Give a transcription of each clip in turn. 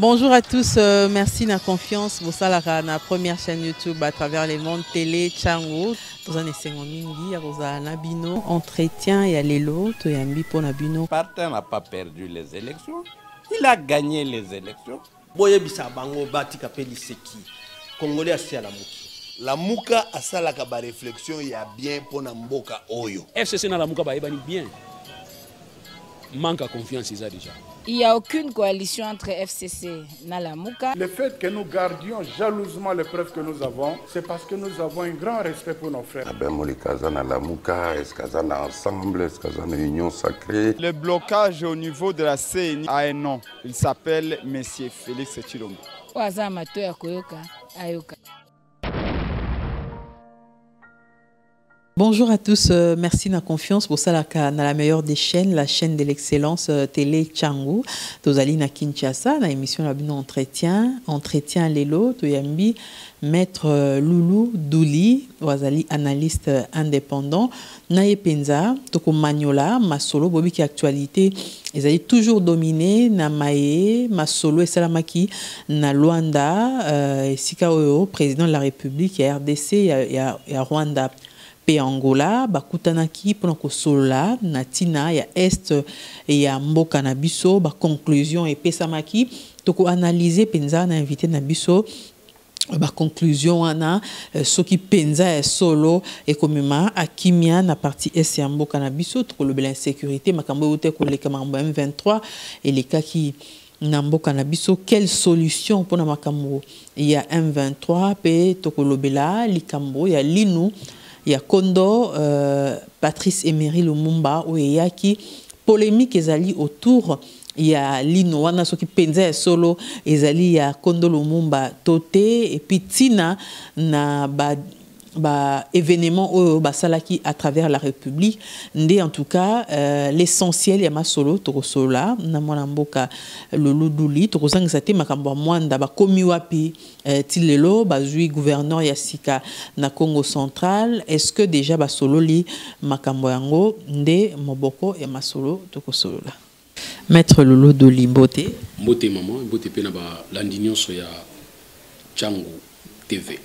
Bonjour à tous, euh, merci na confiance bosalaka na première chaîne YouTube à travers les mondes télé Chango. Toza na esengo mingi ya kozala na bino entretien ya lelo toyambi mpo na bino. Parti n'a pas perdu les élections, il a gagné les élections. Boyebisa bango batika pe liseki. Congolais asi alamuki. Lamuka asalaka ba reflexion ya bien mpo na mboka oyo. FCC na Lamuka bayebani bien. Manque à confiance eza déjà. Il n'y a aucune coalition entre FCC et Nalamuka. Le fait que nous gardions jalousement les preuves que nous avons, c'est parce que nous avons un grand respect pour nos frères. Ben Molikaza Nalamuka, est-ce qu'on a ensemble, est-ce qu'on a une union sacrée Le blocage au niveau de la CENI a un nom. Il s'appelle Monsieur Felix Tshilombo. Oyo aza mato ya koyoka ayoka. Bonjour à tous, euh, merci na confiance pour salaka na la meilleure des chaînes, la chaîne de l'excellence euh, Télé Changu. Tozali na Kinshasa na émission la bino entretien, entretien lelo toyambi maître euh, Loulou Douli, wazali analyste euh, indépendant. na ye penza tokomanyola masolo boyebi ke actualite ezali toujours domine na maye masolo esalamaki na Luanda euh, esika oyo président de la République ya RDC ya, ya, ya Rwanda mpe Angola bakutanaki mpona kosolola na ntina ya est ya mboka na biso. Baconclusion epesamaki tokoanalyse mpenza na invité na biso ba conclusion wana euh, soki penza ya solo ekomema akimia na parti est ya mboka na biso tokolobela insécurité makambo euta koleka makambo ya M23 elekaki na mboka na biso quelle solution mpona makambo ya M23 mpe tokolobela likambo ya linu ya kondo uh, Patrice Emery Lumumba oyo eyaki polemique ezali autour ya lino wana soki mpenza ya solo ezali ya kondo lumumba to te epi ntina na ba ba événement oyo basalaki à travers la république nde en tout cas euh, l'essentiel ya masolo tokosolola na mwana mboka loluduli tokozangisa te makambo ya mwanda bakomi wapi euh, ti lelo bazwi gouverneur ya sika na congo central est ce que déjà basololi makambo yango nde moboko ya masolo tokosolola Maître Lolo Doli Mbote. Mbote maman, Mbote pe na ba landi nyonso ya Changu TV.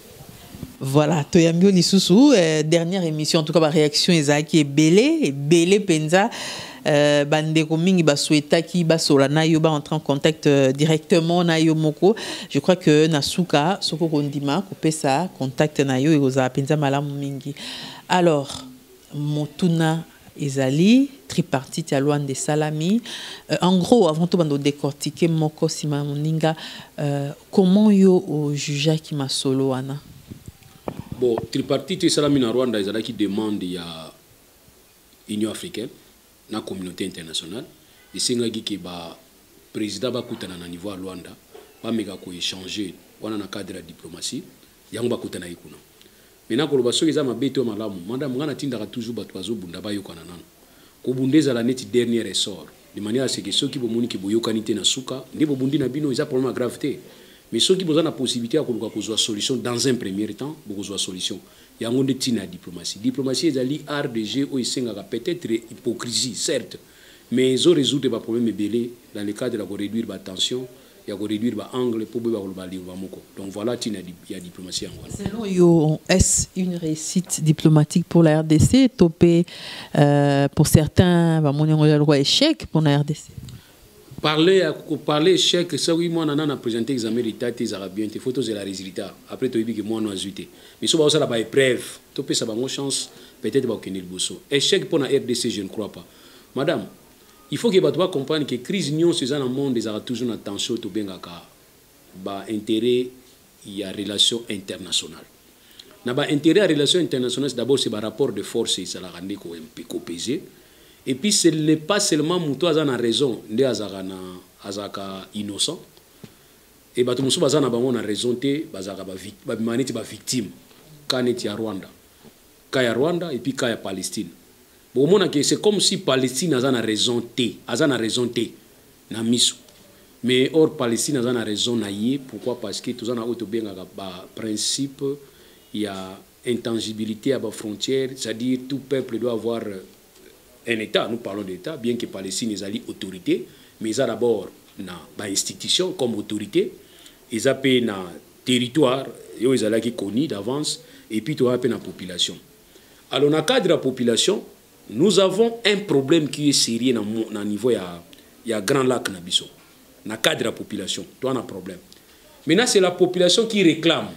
Voilà, toyambi lisusu euh, dernière émission en tout cas ba réaction ezalaki ebele ebele penza euh, bandeko mingi basuetaki basola na yo baentre en contact euh, directement na yo moko je crois que na suka soko kondima kopesa contact na yo ekozala mpenza malamu mingi alors Motuna ezali tripartite ya Luanda esalami euh, en gros avant tout bando décortiquer moko sima ya moninga euh, comment yo au jugeaki masolo wana bon tripartite esalami na Rwanda ezalaki demande ya Union africaine na communauté internationale esengaki ke ba président bakutana na niveau ya Luanda bameka ko échanger wana na cadre ya diplomatie yango bakutanaki kuna Mais nako loba soki eza mabe to malamu madame nga na tindaka toujours batu bazo bunda ba yokana nanu. Ko bunda ezala neti dernier ressort de manière à ce que soki bo moni que bo yokani te na suka nde bo bundi na bino eza problème ya grave te mais soki boza na possibilite ya ko luka ko zua solution dans un premier temps boko zua solution. Yango nde tina ya diplomatie. Diplomatie ezali art de jeu oyo esengaka peut etre hypocrisie certes mais ezo resoudre ba problème ebele dans le cadre ya ko reduire ba tensions ya ko reduire ba angle mpo boyeba koloba lingua moko donc voilà ntina ya diplomatie yango wana selon yo est-ce une réussite diplomatique pour la rdc to mpe euh, pour certains bamoni yango ya lokwa échec mpo na rdc parler ya koparle échec soki mwana nana présente examen d'état te ezalaka bien te fo tozela résultat après toyebi ke mwana azwi te miso baosala ba épreuve topesa bango chance peut-être bakokende liboso échec mpo na rdc je ne crois pas madame Il faut que batu ba comprendre que crise nionso eza na monde ezalaka toujours na tension oyo tobengaka ba interets ya relation internationale. Na ba interets ya relation internationale d'abord c'est ba rapport de force ezalaka nde ko ko peser et puis ce n'est pas seulement mutu aza na raison nde azalaka na azalaka innocent et batu mosusu baza na bango na raison te bazalaka ba, ba, ba, ba victime ka neti ya Rwanda cas ya Rwanda et puis cas ya Palestine bokomona ke c'est comme si Palestine aza na raison te aza na raison te na miso mais or Palestine aza na raison na ye pourquoi parce que toza na oyo tobengaka ba principe ya intangibilité ya ba frontières c'est-à-dire tout peuple doit avoir un État, nous parlons d'État, bien que Palestine ezali autorité, mais eza d'abord na ba institutions comme autorité, eza pe na territoire yo ezalaki connu d'avance et puis toza pe na population. Alors na cadre ya population, nous avons un problème qui est sérieux na, na niveau ya ya Grand Lac na biso. Na cadre ya population, toza na problème. Maintenant c'est la population qui réclame.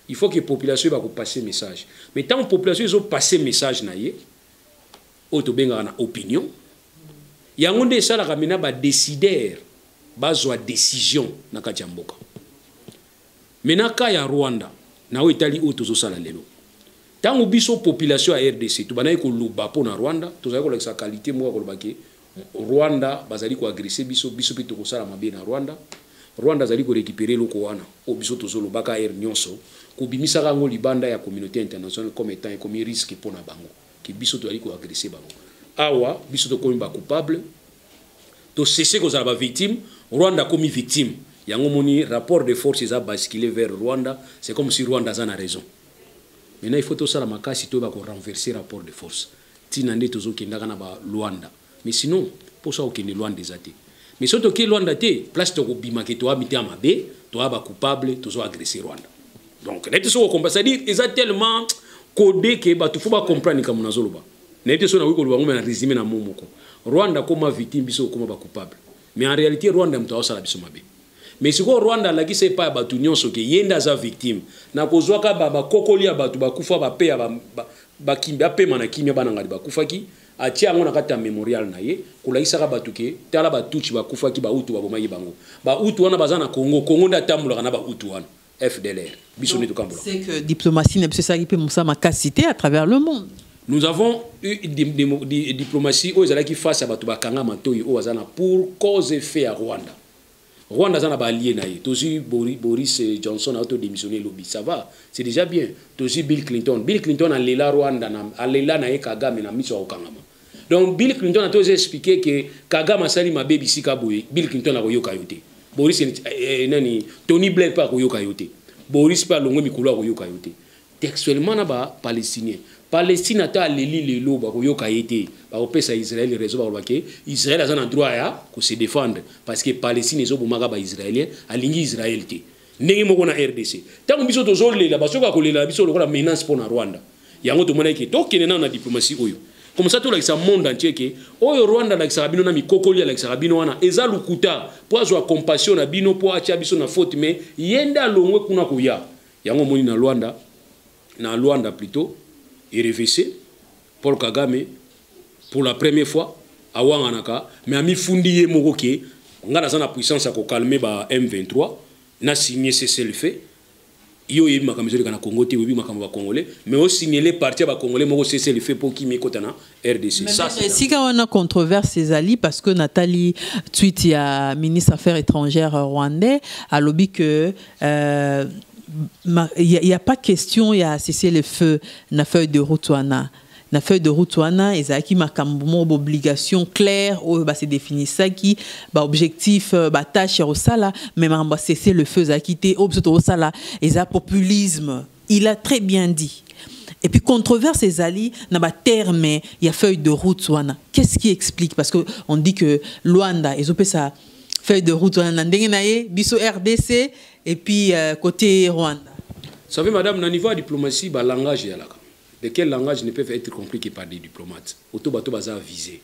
Il faut que population va ko passer message. Mais tant population ils ont passé message na ye, oyo tobengaka na opinion yango nde esalaka mena badesider bazwa decision na kati ya mboka mena ka ya rwanda na oyo etali oyo tozosala lelo ntango biso population ya rdc tobandaki koloba mpo na rwanda tozali kolakisa kalite moko ya kolobaki Rwanda bazali ko agresse biso biso pe tokosala mabe na Rwanda Rwanda azali ko recuperer eloko wana oyo biso tozo lobaka heure nionso kobimisaka yango libanda ya communauté internationale comme etant ekomi risque mpo na bango ke biso tozali ko agresse bango awa biso tokomi ba coupable tosese kozala ba victime Rwanda akomi victime yango moni rapport de force eza basculer vers Rwanda c'est comme si Rwanda aza na raison maintenant il faut tosala makasi toyeba ko renverser rapport de force Tina nde tozo kendaka na ba Luanda. Mais sinon posa ya kokende Luanda eza te. Mais soki toke Luanda te, place toko bima ke toa mitema mabe, toa ba coupable, tozo agresser Rwanda. Donc nayebi te soki okomba, c'est-à-dire eza tellement code ke bato fo ba comprendre likambo nazoloba. Nayebi te soki nakoki koloba yango, mais na resume na mot moko. Rwanda akoma victime, biso tokoma ba coupable. Mais en realite Rwanda moto aosala biso mabe. mais sikoyo rwanda alakisa epai ya bato nyonso ke ye nde aza victime na kozwaka bakokoli ya bato bakufa bape ya bapema na kimia bana ngadi bakufaki atie yango na kati ya memorial na ye kolakisaka bato ke tala batuchi bakufaki bautu babomaki bango bautu wana baza na congo congo nde atambolaka na bautu wana fdlr biso nde tokambola c'est que diplomatie na biso esalaki mpe mosala makasi te à travers le monde nous avons eu diplomatie oyo ezalaki face ya bato bakanga matoi oyo aza na pour cause effet ya rwanda Rwanda aza na ba alliés na ye. Tozui Boris eh, Johnson a auto démissionner lobi. Ça va, c'est déjà bien. Tozui Bill Clinton. Bill Clinton a lela Rwanda na a lela na ye Kagame na miso ya kokangama. Donc Bill Clinton a tozo expliquer que Kagame asali mabe bisika boye. Bill Clinton a koyoka yo te. Boris eh, eh, nani Tony Blair pa koyoka yo te. Boris pa longo mikolo a koyoka yo te. textuellement na ba palestinien palestine ata aleli lelo bakoyoka ye te bakopesa israel raison bakoloba ke israel aza na droit ya kose défendre parce que palestine ezobomaka baisraélien alingi israel te ndenge moko na rdc ntango biso tozolela basoki bakolela na biso lokola menace mpo na rwanda yango tomonaki ke tokende nano na diplomatie oyo comme ça tolakisa monde entier ke oyo rwanda alakisaka bino na mikokoli alakisaka bino wana eza lokuta mpo azwa compassion na bino mpo atya biso na faute mais ye nde alongwe kuna koya Yango omoni na Luanda, na Luanda plutot, erevese Paul Kagame pour la première fois awanganaka mais amifundi ye moko ke ngai naza na puissance ya kokalme ba M23 na signe cessez-le-feu yo oyebi makambo ezoleka na Congo te oyebi makambo ba Congolais mais osignele parti ya ba Congolais moko cessez-le-feu mpo kimi ekota na RDC. Ça, c'est esika wana controverse ezali parce que natali tweet ya ministre affaires étrangères rwandais alobi que euh, il n'y a, a, pas question ya cesser le feu na feuille de route wana na feuille de route wana ezalaki makambo moko baobligation claire oyo base definisaki baobjectif euh, batâche ya kosala mais makambo ya cesser le feu ezalaki te oyo biso tokosala eza populisme Il a très bien dit. Et puis controverse ezali na ba termes ya feuille de route wana. Qu'est-ce qui explique parce que on dit que Luanda ezopesa feuille de route wana na ndenge na ye biso RDC et puis euh, côté Rwanda. Vous savez madame na niveau ya diplomatie ba langage yalaka. De quel langage ne peuvent être compris que par des diplomates? Auto bato baza avisé.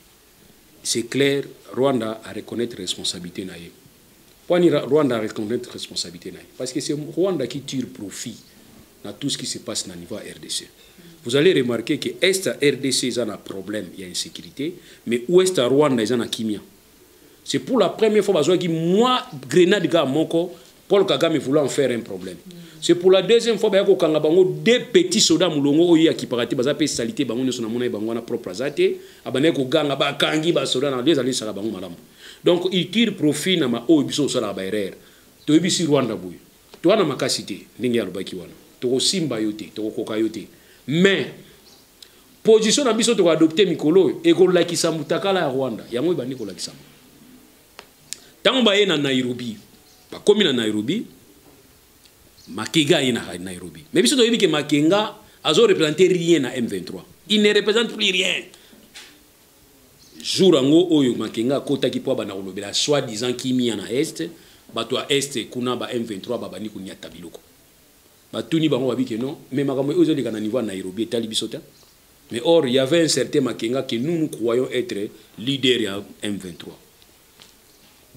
C'est clair, Rwanda a reconnaître responsabilité na ye. Kwani Rwanda a reconnaître responsabilité na ye parce que c'est Rwanda qui tire profit na tout ce qui se passe na niveau ya RDC. Vous allez remarquer que Est ya RDC eza na problème ya insécurité mais Ouest ya Rwanda eza na kimia. C'est pour la première fois bazwaki mwa grenade kaka moko Paul Kagame voulant en faire un problème. C'est pour la deuxième fois baya kokanga bango deux petits soda mulongo oyo ya kiparate baza pe salite bango nyoso na mona bango wana propre azate abandaki koganga ba kangi ba soda na deux ali sala bango malamu. Donc il tire profit na ma oyo biso sala ba erreur. To yebisi Rwanda boye. To wana makasi te ndenge ya lobaki wana. To ko simba yo te, to ko koka yo te. Mais position na biso to ko adopter mikolo e ko lakisa mutakala ya Rwanda. Yango ebandi ko lakisa. ntango baye na nairobi bakomi na nairobi makega aye na nairobi mais biso toyebi ke makenga azo représente rien na m23 il ne représente plus rien jour yango oyo makenga akotaki mpo abanda kolobela soit disant kimia na est bato ya est kuna ba m23 babandi konyata biloko batuni bango babi ke non mais makambo oyo ezoleka na niveau ya nairobi etali biso te Mais or il y avait un certain Makenga que nous nous croyons être leader ya M23.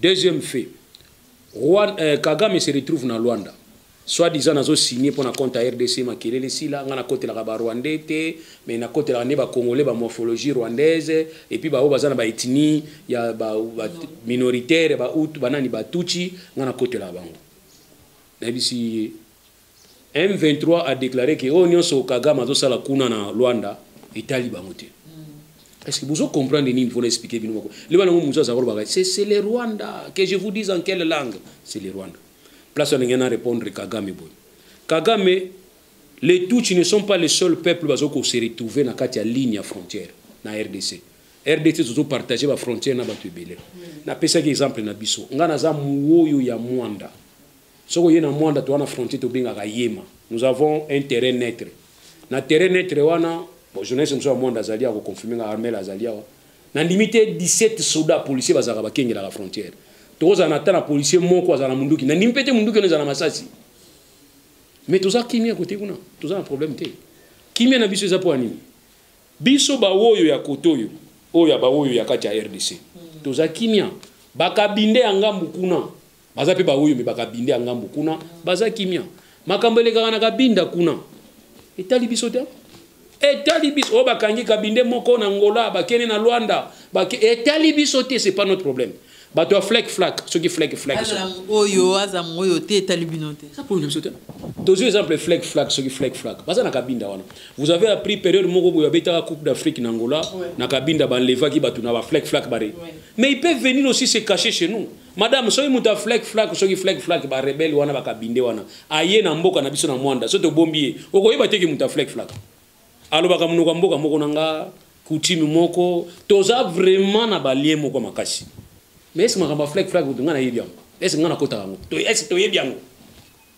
Deuxième fait, Rwanda, euh, Kagame se retrouve na Luanda. Soit disant nazo signé pour na compte à RDC makelele sila nga na kotelaka ba Rwandais te mais na kotelaka ne ba Congolais ba morphologie rwandaise et puis ba oyo baza na ba ethnie ya ba, ba minoritaire ba Hutu ba nani ba Tutsi nga na kotelaka bango. Na bisi M23 a declare que oyo nionso Kagame azosala kuna na Luanda etali bango te. Est-ce que vous comprenez nini faut expliquer bino moko. Leba nango muzo azakolo baka c'est c'est le Rwanda que je vous dise en quelle langue c'est le Rwanda. Place on ngena répondre Kagame boy. Kagame les Tutsis ne sont pas les seuls peuples bazo ko se retrouver na kati ya ligne ya frontière na RDC. RDC zozo partager ba frontière na batu ebele. Na pesa ki exemple na biso. Nga naza muoyo ya Mwanda. soki oye na mwanda toa na frontier tobengaka yema nous avons un terrain neutre na terrain neutre wana bon, journaliste mosusu ya mwanda azali ya koconfirme nga armel azali awa nandimi te 17 soda policier bazalaka bakengelaka frontière tokozala na ata na policier moko azala na munduki nandimi mpe te munduki wana ezala na masasi mais toza kimia kote kuna toza na problème te kimia na biso eza mpo ya nini biso baoyo ya kote oyo oyo ya baoyo ya kati ya rdc toza kimia bakabinde ya ngambu kuna baza mpe baoyo me bakabinde ya ngambo kuna baza kimia makambo elekaka na kabinda kuna etali biso te etali biso oyo oh, bakangi kabinde moko na ngola bakende na lwanda bake... etali biso te c'est pas notre problème bato ya flek flak soki flek flakoyo aza moyo te etali bino te na biso te tozwi exemple flek flak soki flek flak baza na kabinda wana vous avez appris période moko boye abetaka coupe d'afrique na ngola na kabinda banlevaki bato na baflek flak bare mais il peut venir aussi se cacher chez nous Madame, soki moto ya flek flak, soki flek flak, ba rebelle wana ba kabinde wana, aye na mboka na biso na Mwanda, soki tobombi ye, okoyeba te ki moto ya flek flak. Alobaka monoko ya mboka moko na nga, coutume moko, toza vraiment na ba lien moko makasi. Mais est-ce makambo ya flek flak kutu nga nayebi yango? Est-ce nga nakotaka yango? Est-ce toyebi yango?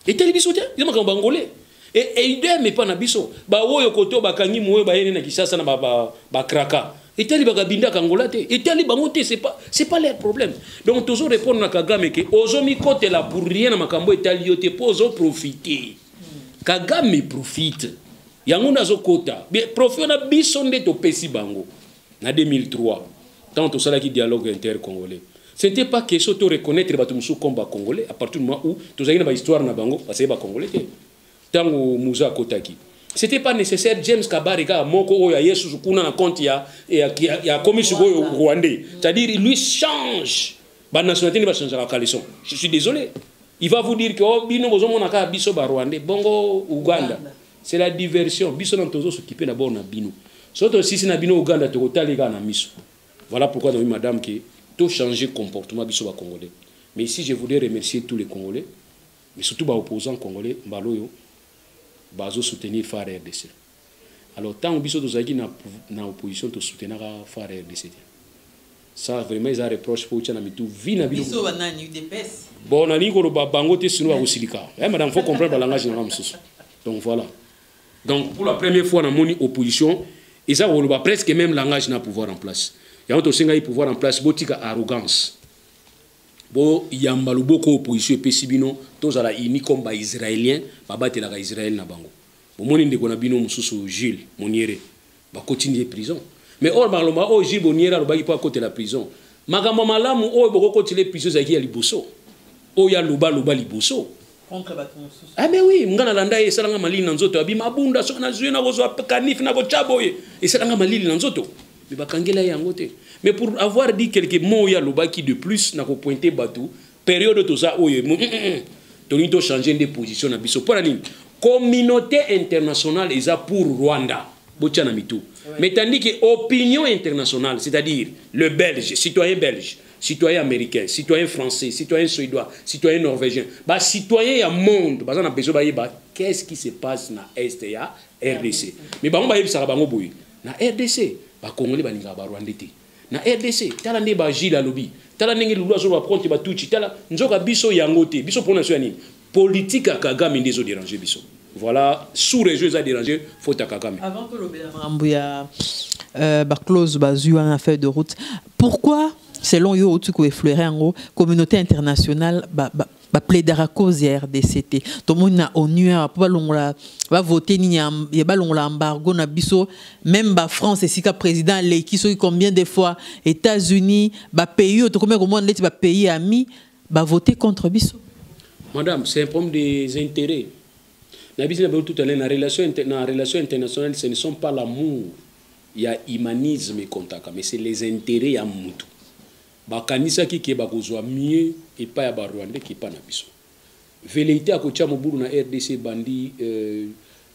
etali biso te eza makambo bangole eidem epa na biso baoyo koto bakangi moyo bayene na kisasa na bakraka ba, ba etali bakabindaka angola te etali bango te c'est pas c'est pas leur problème donc tozo répondre na kagame ke ozo mikotela pour rien na makambo etali yo te po ozo profiter kagame profite yango nde azokota profit wana biso nde topesi bango na 2003 ntango tosalaki dialogue inter congolais ce n'était pas question to reconnaître bato mosusu comme ba congolais à partir du moment où tozalaki na bahistoire na bango basali ba congolais te ntango muza akotaki c'était pas nécessaire james kabare kaka moko oyo aye susu kuna na compte ya, ya, ya, ya komi sikoyo rwandais c'est à dire il lui change banationalité nde bachangeaka caleson je suis désolé il va vous dire que oh, bino bozomona kaka biso barwandais bongo uganda, uganda. c'est la diversion biso nanu tozo s'occuper na bord na bino so tosisi na bino uganda tokotali kaka na miso voilà pourquoi naomi madame ke to changer comportement biso ba congolais mais ici je voudrais remercier tous les congolais mais surtout ba opposants congolais mbala oyo bazo soutenir far rdc alors ntango biso tozalaki na, na opposition tosutenaka far rdc te Ça vraiment eza reproche pour na mitu vie na bino. Biso ba nani UDPS? Bon na niko loba bango te sino ba kosilika. Eh madame faut comprendre ba langage na mususu. Donc voilà. Donc pour la première fois na moni opposition eza koloba presque même langage na pouvoir en place. Yango to senga pouvoir en place botika arrogance. Bo yamba loboko opposition epesi bino tozala unis comme ba israéliens babatelaka Israël na bango. Bomoni ndeko na bino mususu Jules Moniere. bakotindi ye prison mais or bakaloba oyo oh, jules boniere alobaki mpo akotela prison makambo ya malamu oyo bokokotela ye prison ezalaki ya liboso oyo aloba aloba liboso ah mais oui ngai nalanda ye esalanga malili na nzoto abima abunda soki nazwi nakozwa kanif nakotya boye esalanga malili na nzoto me bakangela ye yango te mais pour avoir dit quelque mot oyo alobaki de plus nakopointe bato periode toza oyo mm, mm, mm, tolingi tochange nde position na biso mpo na nini communauté internationale eza pour rwanda botya na mitu mais tandis que opinion internationale c'est-à-dire le belge citoyen belge citoyen américain citoyen français citoyen suédois citoyen norvégien bacitoyen ya monde baza na besoin bayeba qu'est-ce qui se passe na est ya rdc mais bango bayebisaka bango boye na rdc bakongoli balingaka barwande te na rdc tala nde ba gile alobi tala ndenge lulu azoloba contre batuti tala nzoka biso yango te biso mpona biso ya nini politike ya kagame nde ezoderange biso voilà sous région eza déranger faute à kagame avant tolobela makambo ya euh, baclose bazwi wana feuille de route pourquoi selon yo outi koefleure yango communauté internationale ba plaidaka cause ya rdc te tomoni na onu awa mpo balongola bavote nini ya balongola embargo na biso meme bafrance esika président aleki soki combien de fois états-unis bapays oyo tokomi komona ndeti bapays ami bavote contre biso madame c'est un problème des intérêts na biso na bango tout alain na relation, na relation internationale ce ne sont pas l'amour ya humanisme ekontaka mais c'est les intérêts ya mutu Bakanisaki ke bakozua mieux epa ya ba rwandais ke epa na biso. Velleite ya kotia mobulu na rdc ebandi euh,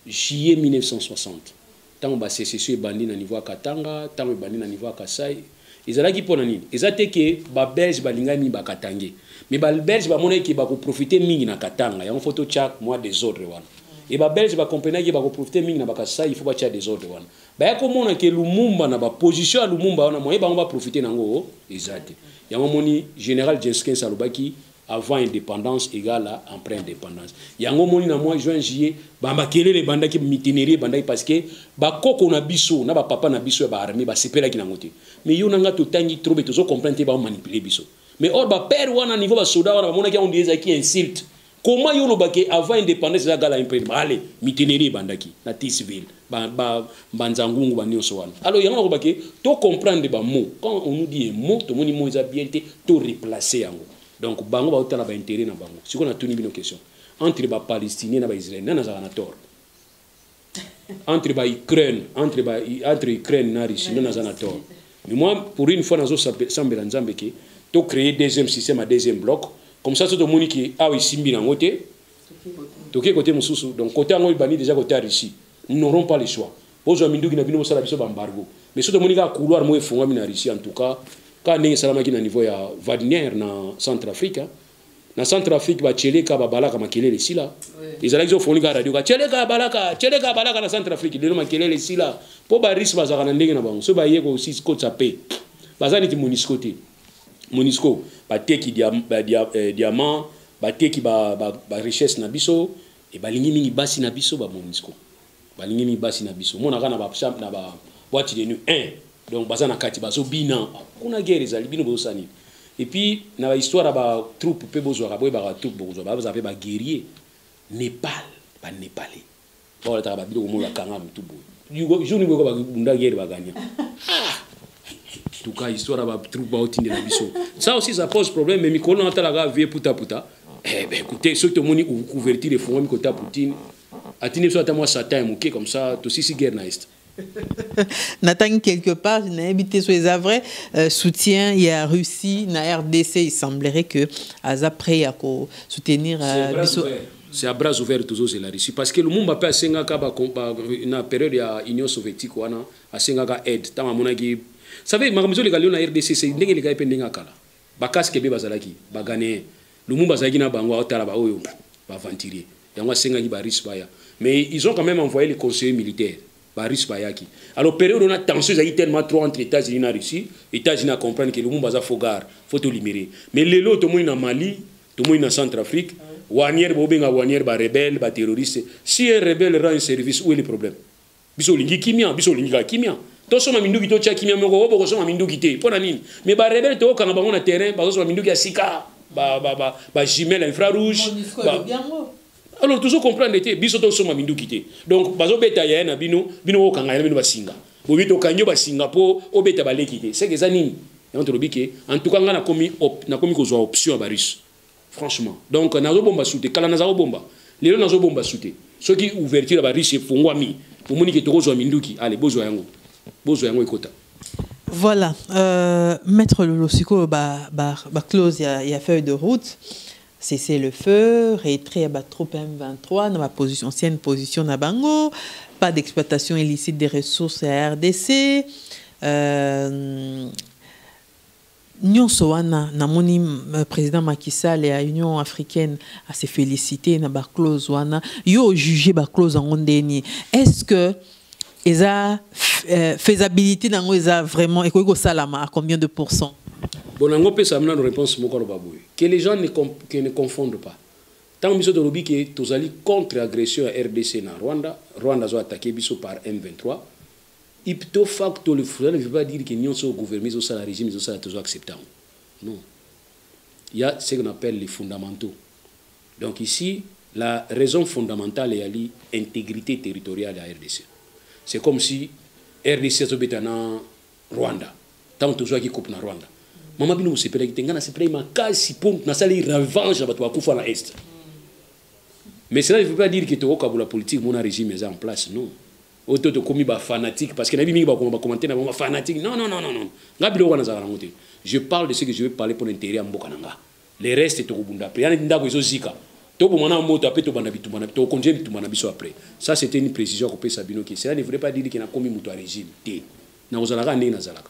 juillet 1960 tango ba secession ebandi na niveau ya Katanga, tango ebandi na niveau ya Kasai. Ezalaki pona nini? Eza te ke ba belge balingaki mingi ba katangais, mais ba belge bamonaki ke bako profiter mingi na Katanga, yango faut totia mua desordre wana. Et ba belge ba comprenaki ke bako profiter mingi na ba Kasai, il faut batia desordre wana. baya komona ke lumumba na baposition ya lumumba wana moye bango baprofite na yango eza te yango omoni général jenskins alobaki avant indépendance egala après indépendance yango omoni na mwa juin juillet bamakelele ebandaki mitinerie ebandaki parce que bakoko na biso na bapapa na biso ya baarmée basepelaki nango te mais yo na ngai totangi trop mais tozo comprendre te baomanipule biso mais or bapere wana niveau basoda wana bamonaki yango nde ezalaki insulte Comment yo loba ke avant indépendance eza gala imprim ale mitinerie ebandaki na Tisville ba ba banza ngungu ba nionso wana alors yango loba ke to comprendre ba mots quand on nous dit un mot to moni mot eza bien te to replacer yango donc bango ba otala ba intérêt na bango siko na tuni bino question entre ba palestiniens na ba israéliens nana zaka na tort entre ba Ukraine entre ba entre Ukraine na Russie ndio naza na tort mais moi pour une fois nazo sambela nzambe ke to créer deuxième système à deuxième bloc comme ça soto moni ke awa isimbi nango te toke côté mususu donc côté yango ibani déjà côté ya Russie nous n'aurons pas le choix bozwa minduki na bino bosala biso ba embargo mais soto moni kaka couloir moko efungwami na Russie en tout cas kaka ndenge esalamaki na niveau ya Wagner na Centrafrique hein? na centre afrique baceleka babalaka makelele esila ezalaki zofoni kaka radio kaceleka abalaka celeka abalaka na centre afrique lelo makelele esila mpo barise bazalaka na ndenge na bango soki baye kokotisa mpe baza neti monisco te monisco bateki eh, diamant bateki barichesse na biso e balingi mingi basi na biso bamonisco balingi ni basi na biso monaka na ba na ba boîte de nuit un donc baza na kati bazo bina kuna guerre ezali bino bozo sani et puis na ba histoire ba troupe pe bozwa ka boye ba troupe bokozwa ba baza pe ba guerrier Népal ba népalais ba wala ta ba bino komona kanga mutu boye yugo jour ni boye ba bunda guerre ba gagner ah tout cas histoire ba troupe ba otinde na biso ça aussi ça pose problème mais mikolo na tala ga vie puta puta eh ben écoutez soki tomoni couverture efungwami kota poutine atindi biso ata mwa satan ya moke comme ça tosisi guerre na est natangi quelque part nayebi te so eza vrai euh, soutien ya russie na rdc il semblerait que aza prêt ya kosoutenir euh, biso c'est à bras ouvert tozozela russie parce que lumumba mpe asengaka ba, ba, na période ya union soviétique wana asengaka aide ntango amonaki save makambo ezoleka lelo na rdc ndenge elekaki mpe ndenge akala Ba casque be bazalaki ba Ghanéens. Lumumba azalaki na bango aotala ba oyo ba aventurier. Yango asengaki ba Russes baya. Mais ils ont quand même envoyé les conseillers militaires. Ba Russes bayaki. Alors période on a tension ezalaki tellement trop entre États-Unis na Russie, États-Unis a comprendre que Lumumba aza faux gare, faut to libérer. Mais lelo tomoni na Mali, tomoni na Centrafrique, Wanier bobenga Wanier ba rebelles, ba terroristes. Si un rebelle rend un service, où est le problème? biso olingi kimia biso olingi kaka kimia tosomba minduki totya kimia moko oyo bokosomba minduki te mpo na nini me barebele tookanga bango na terrain bazosomba minduki ya sika bajumele ya infra rouge alors tozo comprendre te biso tosomba minduki te donc bazobeta yaya na bino bino okanga yaya na bino basinga bobi tokangi yo basinga mpo obeta baleki te seke eza nini yango tolobi ke en tout cas ngai nakomi nakomi kozwa option ya barusse franchement donc nazobomba su te kala naza kobomba lelo nazobomba su te soki ouverture ya bariche efungwami omoni ke tokozwa minduki ale bozwa yango bozwa yango ekota voilà euh, maître lolo sikoyo baclose ba, ba, ba ya, ya feuille de route cessez le feu retrait ya batroupe m23 na baposition ancienne position na bango pas d'exploitation illicite des ressources ya rdc euh, Nionso wana namoni president Macky Sall ya Union africaine a se feliciter na ba clause wana yo o juger ba clause yango ndenge nini est ce que eza euh, faisabilité nango eza vraiment ekoki kosalama à combien de pourcent bon nango opesa mna no réponse moko aloba boye que les gens ne, que ne confondent pas ntango biso tolobi ke tozali contre agression ya rdc na rwanda rwanda azo attaquer biso par m23 Ipto facto le cela ne veut pas dire que nionso oyo gouvernement ezo sala regime ezo sala tozo accepter yango non il ya ce qu'on appelle les fondamentaux donc ici la raison fondamentale eyali integrite territoriale ya rdc c'est comme si rdc azobeta na rwanda ntango tozwaki coupe na rwanda mama bino bosepelaki te ngai nasepelaki makasi mpo nasali revanche na bato bakufa na est mais cela ne veut pas dire que tokokabola politique mona régime eza en place non oyo to tokomi ba fanatique parce que nayebi mingi bakoma ba commentaire na bango fanatique non non non non non nga biloko wana nazalaka nango te je parle de ce que je veux parler pour l'intérêt ya mboka na nga le reste tokobunda mpe yani ndako ezozika toboma na moto ape tobanda bitumba na tokontinue bitumba na biso après ça c'était une précision ya kopesa bino ke cela ne voulait pas dire ke nakomi moto ya régime te nakozalaka ndenge nazalaka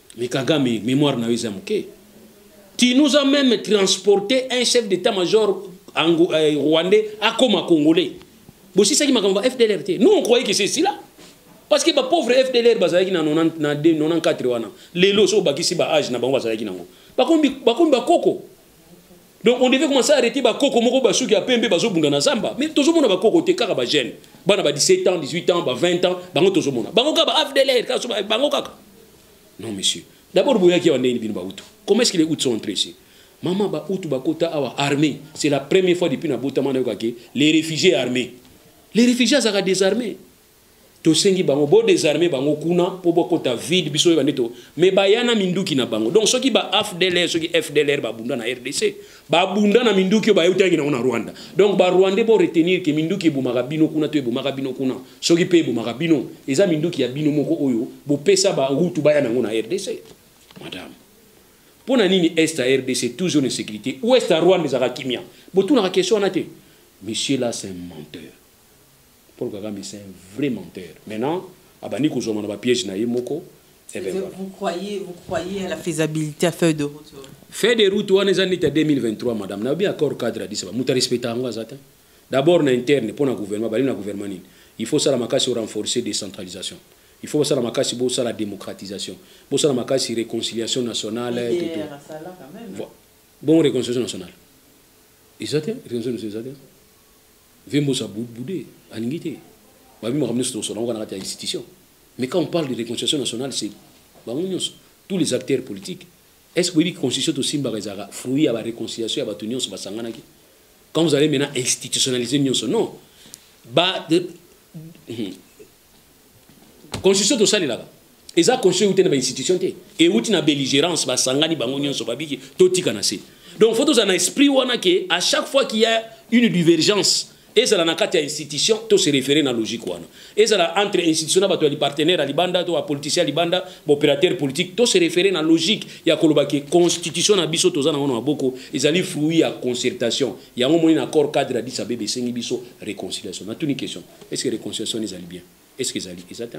Mais Kagame, mémoire na eza muke. Tu nous as même transporté un chef d'état-major euh, rwandais à Koma congolais. Bosi ça qui m'a FDLR Nous on croyait que c'est cela. Parce que ba pauvre FDLR bazalaki na 90 na 94 wana. Lelo so bakisi ba âge na bango bazalaki nango. Bakombi bakombi bakoko. Donc on devait commencer à arrêter ba koko moko ba suki ya pembe bazo bunda na zamba. Mais tozo mona ba koko te kaka ba jeunes. Bana ba 17 ans, 18 ans, ba 20 ans, bango tozo mona. Bango kaka ba AFDLR, kaso bango kaka. Non monsieur. D'abord boyaki ya ndeni bino ba utu. Comment est-ce que les utu sont entrés ici? Maman ba utu ba kota awa armée. C'est la première fois depuis na botama na yokaki les réfugiés armés. Les réfugiés azaka désarmés. tosengi bango bo desarme bango kuna mpo bokota vide biso oyeba nde to me baya na minduki na bango donc soki ba afdlr soki fdlr babunda na rdc babunda na minduki oyo bayeutangi nango na rwanda donc barwandais bo retenir ke minduki ebomaka bino kuna to ebomaka bino kuna soki mpe ebomaka bino eza minduki ya bino moko oyo bopesa barutu baya nango na rdc madame mpo na nini est ya rdc toujours na sécurité ouest ya rwanda ezalaka kimia botunaka question wana te monsieur là c'est un menteur Paul Kagame c'est un vrai menteur. Maintenant, abandi kozwama na ba piège na ye moko. Eh ben, voilà. Vous croyez, vous croyez à la faisabilité à feuille de route Feuille de route wana eza neti ya 2023 madame. Na bien accord cadre Addis Ababa. Muta respecta yango aza te. D'abord na interne pona gouvernement, bali na gouvernement nini? Il faut sala makasi renforcer décentralisation. Il faut sala makasi bo sala démocratisation. Bo sala makasi réconciliation nationale et tout. Bon réconciliation nationale. Ils étaient, ils étaient. Vembos a boude, alingi te. Ba bi makambo nionso to solangaka na kati ya institution. Mais quand on parle de réconciliation nationale, c'est bango nionso, tous les acteurs politiques. Est-ce que boyebi constitution to simbaka ezalaka fruit ya ba réconciliation ya bato nionso basanganaki? Quand vous allez maintenant institutionnaliser nionso, non. Ba de, constitution tosalelaka eza constitution euti na bainstitution te euti na belligérance basangani bango nyonso babiki totika na se donc faut tozala na esprit wana ke à chaque fois qu'il y a une divergence ezala na kati ya institution to se référer na logique wana ezala entre institution na bato ya lipartenaire ya libanda to bapoliticien ya libanda baopérateur politique to se référer na logique ya koloba ke constitution na biso toza nango na maboko ezali fruit ya concertation yango moni na accord cadre ya disabebe esengi biso réconciliation natuni question est ce que réconciliation wana ezali bien est ce que ezali eza te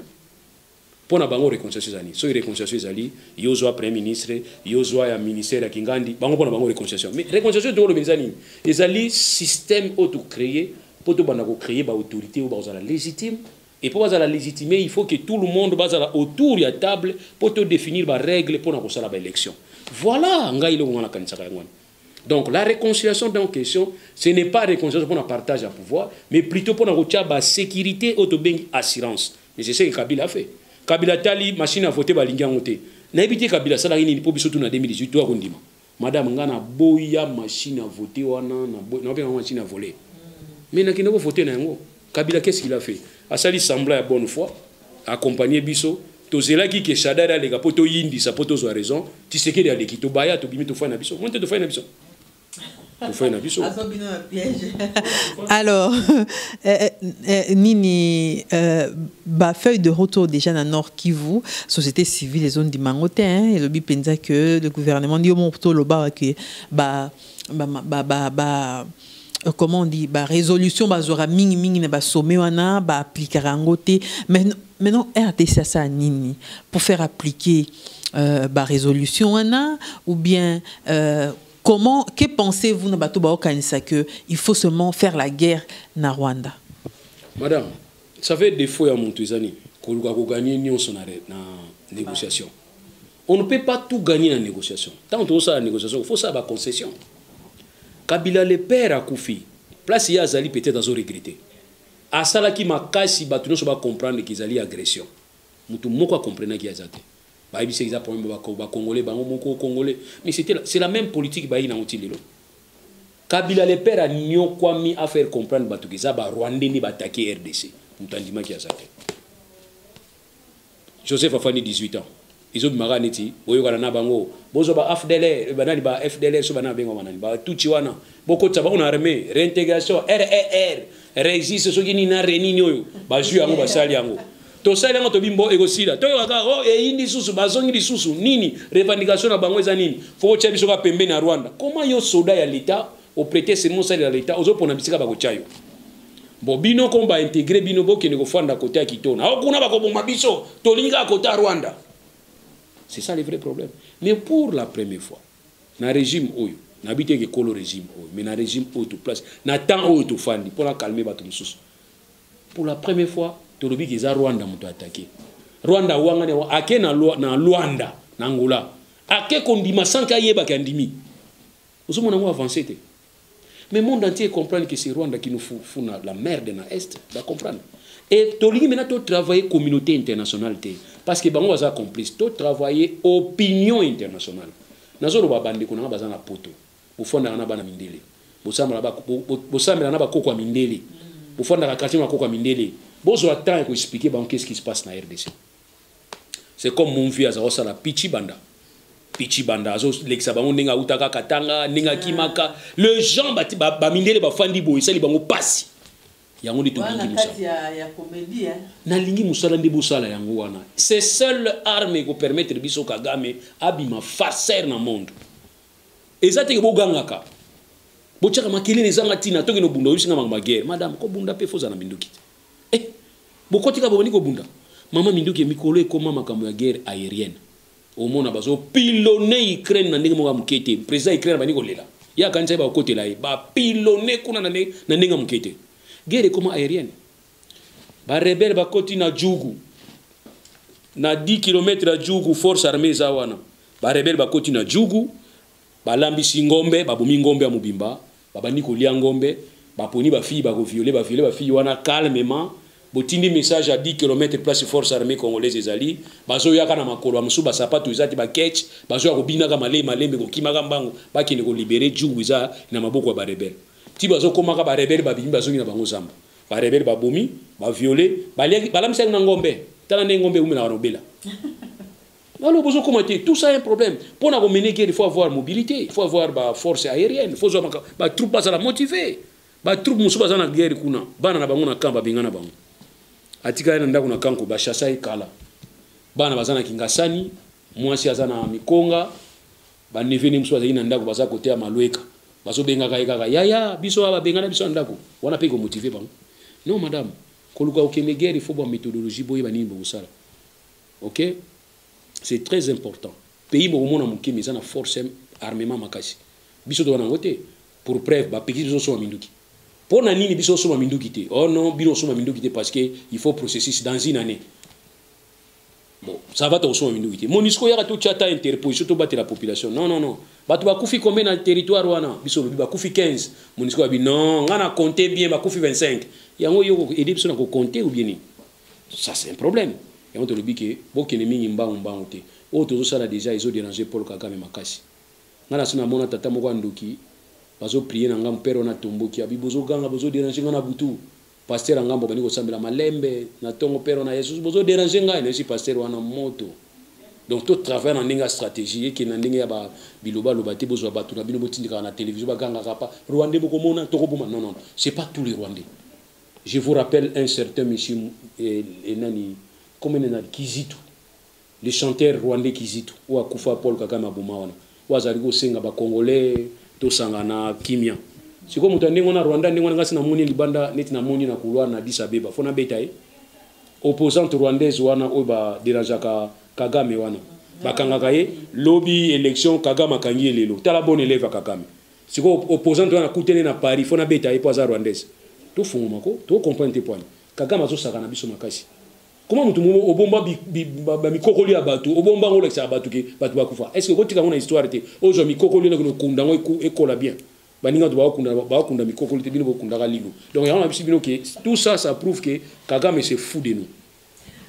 mpo na bango réconciliation eza nini soki réconciliation ezali yo ozwa premier ministre yo ozwa ya ministère ya kingandi bango mpo na bango réconciliation mais réconciliation tokoloba eza nini ezali système oyo tocreye mpo tobanda kocreye baautorité oyo bakozala légitime et mpo bazala légitime il faut que tout le monde bazala autour ya table mpo todéfinir barègle mpo na kosala baélection voilà ngai eloko ngai nakanisaka yango wana Donc la réconciliation dans question, ce n'est pas réconciliation pour un partage à pouvoir, mais plutôt pour la sécurité ou assurance. Mais c'est ce que Kabila a fait. Kabila tali machine à voter ba lingi ngote. Na ebité Kabila sala nini pour biso tout na 2018 toi kondima. Madame ngana boya machine à voter wana na boya na machine à voler. Mais na kinoko voter na yango. Kabila qu'est-ce qu'il a fait? Asali semblant ya bonne foi, accompagner biso, tozelaki ke Shadari aleka po toyindisa po tozwa raison, Tshisekedi aleki tobaya tobimi tofai na biso. Monte tofai na biso. Tofai na biso. Alors, euh, euh, euh, nini euh, ba feuille de retour déjà na Nord Kivu, société civile les ondi mangote hein, et le bi penza que le gouvernement dit au mon loba que ba ba ba ba, ba Euh, comment on dit ba résolution bazwaka mingi mingi na basome wana baaplikaka yango te maintenant rdc asala nini pour faire appliquer euh, barésolution wana ou bien euh, comment que pensez-vous na bato baokanisa que il faut seulement faire la guerre na rwanda madame ça fait défaut ya moto eza nini koluka koganie nyonso na, na négociation On ne peut pas tout gagner na négociation. Tant que ça la négociation, il faut ça ba concession. Kabila le père a koufi. Place ya azali peut-être azo regretter. Asalaki makasi bato nyonso ba comprendre qu'ils allaient agression. Mutu moko a comprendre ki azate. Ba yebisi eza problème ba ba congolais bango moko congolais. Mais c'était c'est la même politique ba yina otilelo. Kabila le père a nyokwami à faire comprendre bato que za ba rwandais ni ba attaquer RDC. Mutandima ki azate. Joseph afandi 18 ans ezo bima kaka neti boyokana na bango bozwa ba afdlr banani ba fdlr so banani babengama nani ba tutsi wana bokotisa bango na armée réintégration rr résiste soki nini na renini oyo bazwi yango basali yango tosali yango tobi mbo ekosila toyoka kaka o oh, eyindi lisusu bazongi lisusu nini revendication na bango eza nini fo botya biso kaka pembeni ya rwanda koma yo soda ya leta au pretexte mosalela leta ozopona bisika bakotya yo bo bino comme baintegre bino bokende kofanda kota ya kitona ao kuna bakoboma biso tolingi kaka kota ya rwanda c'est ça le vrai problème mais pour la première fois na régime oyo nayebi te eke kolo régime oyo mais na régime oyo toplace na temps oyo tofandi mpo na calme bato mosusu pour la première fois tolobi ke eza rwanda moto atake rwanda awangani ake na, na luanda na angola ake kondima sanke ayebaki andimi Ozo mona ngo avance te. Mais monde entier comprendre que c'est Rwanda qui nous fout, fout na la merde na Est, ba comprendre. Et tolingi maintenant to travailler communauté internationale te parce que bango baza complice, to travailler opinion internationale. Nazo loba bande ko nanga baza na poto. Bofanda na bana mindele. Bosambela ba bosambela na bakoko mindele. Bofanda na quartier makoko mindele. Bozo attendre ko expliquer bango qu'est-ce qui se passe na RDC. c'est comme mon vieux aza kosala pichi banda pichi banda azolekisa bango ndenge autaka katanga ndenge akimaka ah. le gens bamindele bafandi boye esali bango mpasi yango nde tolingi mosala hein. nalingi mosala nde bosala yango wana c'est seul arme ekopermettre biso kagame abima farceur na monde eza teke bogangaka botyaka makelele ezanga ntina tokende obunda oyebisi nga makambo ya guerre madame kobunda mpe fozala na minduki te eh bokoti ka bobandi kobunda mama minduki ya mikolo ekoma makambo ya guerre aérienne omona bazo pilone ukraine na ndenge moko ya moke te président ya ukraine abandi kolela ye akanisaki bakokotela ye bapilone kuna na ndenge ya moke te guerre ekoma aérienne barebele bakoti na jugu na 10 km ya jugu force armée eza wana barebele bakoti na jugu balambisi ngombe babomi ngombe ya mobimba Babandi kolia ngombe, baponi ba filles bako violer, ba violer ba filles wana calmement. Botindi message à 10 kilomètre place force armee congolaise ezali, bazoya kaka na makolo, ba mosusu ba sapatu eza te, ba ketch, bazoya kobina kaka malembe malembe, kokima kaka mbangu, bakende ko liberer djungu eza na maboko ya ba rebelles. Ti bazokoma kaka ba rebelles babimi bazongi na bango zamba. Ba rebelles babomi, ba violer, baliaki, balambisaki na ngombe. Tala ndenge ngombe ewumelaka na obela. Wana bozo koma te, tout ça est un problème. Pour na mener guerre, il faut avoir mobilité, il faut avoir ba force aérienne, il faut avoir ba troupes bazala motivées. Ba troupes musu bazana guerre kuna, bana na bango na camp ba bengana bango. Atika na ndako na kanko ba chassa e kala. Bana bazana kingasani, mwasi azana mikonga, ba nevene musu bazali na ndako baza kote ya malweka. Bazo bengaka ye kaka yaya, biso ba bengana biso na ndako. Wana pe ko motiver bango. Non madame, koluka okende guerre, il faut ba méthodologie boye ba nini bokosala. ok c'est très important pays bokomona moke mais eza na force armement makasi biso toza nango te pour preuve bapekisi biso osomba minduki mpo na nini biso osomba minduki te oh non bino osomba minduki te parce que il faut processus dans une année bon ça va tokosomba minduki te monisco yaka totya ata interposition tobatela population non non non bato bakufi combien na territoire wana biso olobi bakufi 15 monisco abi non ngai na compte bien bakufi 25 yango yo edi biso na kocompte ou bien nini ça c'est un problème yango tolobi ke bokende mingi mbangu mbangu te oyo tozosala deja ezo déranger paul kagame makasi ngai nasi namona tata moko ya ndoki bazoprie na ngambo pere wana atomboki abi bozoganga bozoderange ngai na butu paster ya ngambo abandi kosambela malembe na ntongo pere wana yesus bozoderange ngai nayesi paster wana moto donc to travaille na ndenge ya stratégie eke na ndenge ya ba biloba loba te bozwa bato na bino botindikaka na télévision bagangaka pa rwandais bokomona tokoboma non non c'est pas tous les rwandais Je vous rappelle un certain monsieur eh, nani comment il nani Kizitu le chanteur rwandais Kizitu oyo akufa Paul Kagame aboma wana oyo azali kosenga ba congolais tosangana kimia sikoyo moto ya ndenge wana rwanda ndenge wana ngasi namoni libanda neti namoni na couloir na disa beba fo nabeta ye opposante rwandaise wana oyo baderangeaka kagame wana bakangaka ye lobi élection kagame akangi ye lelo tala bon élève ya kagame sikoyo opposant wana nakutene na paris fo nabeta ye mpo aza rwandaise tofungwama ko tocomprendre te pwani kagame azosaka na biso makasi koma moto momo obomba bamikokoli ya bato obomba yango olakisaka bato ke bato bakufa estce okotika yango na histoire te ozwa mikokoli nokende okunda yango ekola bien baninga bato bakokunda mikokoli te bino bokundaka lino donc yango na biso bino ke tout ça ça prouve ke kagame se fou de nous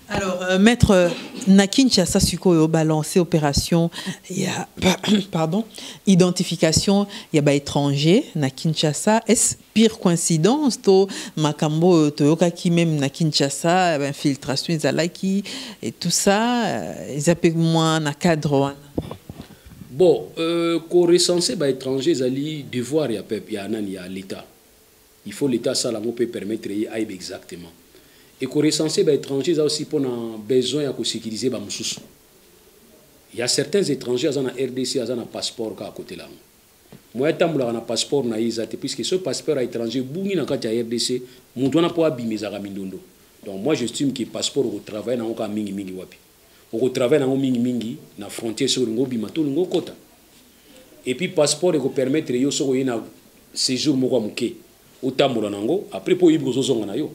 Alors, euh, maître, euh, na Kinshasa sikoyo balancer opération ya pardon, identification ya ba étrangers na Kinshasa. Est-ce pire coïncidence to makambo toyoka ki même na Kinshasa, ba infiltration ezalaki et tout ça, euh, ezape moins na cadre wana. Bon, euh, ko recenser ba étrangers ezali devoir ya peuple ya nani ya l'État. Il faut l'etat asala yango pe permettre ye ayeba exactement et ko recenser ba etrangers eza aussi pona besoin ya ko securiser ba mususu. Il ya certains etrangers aza na rdc aza na passeport kaka kotela yango moyen atambolaka na passeport na ye eza te puisque soki passeport ya etranger ebungi na kati ya rdc mutu wana po abima ezalaka mindondo donc moi j'estime que passeport oko travailler na yango kaka mingi mingi wapi okotravaille nango mingimingi na frontière soki olingi obima to olingi okota epuis passeport ekopermettre yo soki oye na séjour moko ya moke otambola na yango après mpo oyebi kozozonga na yo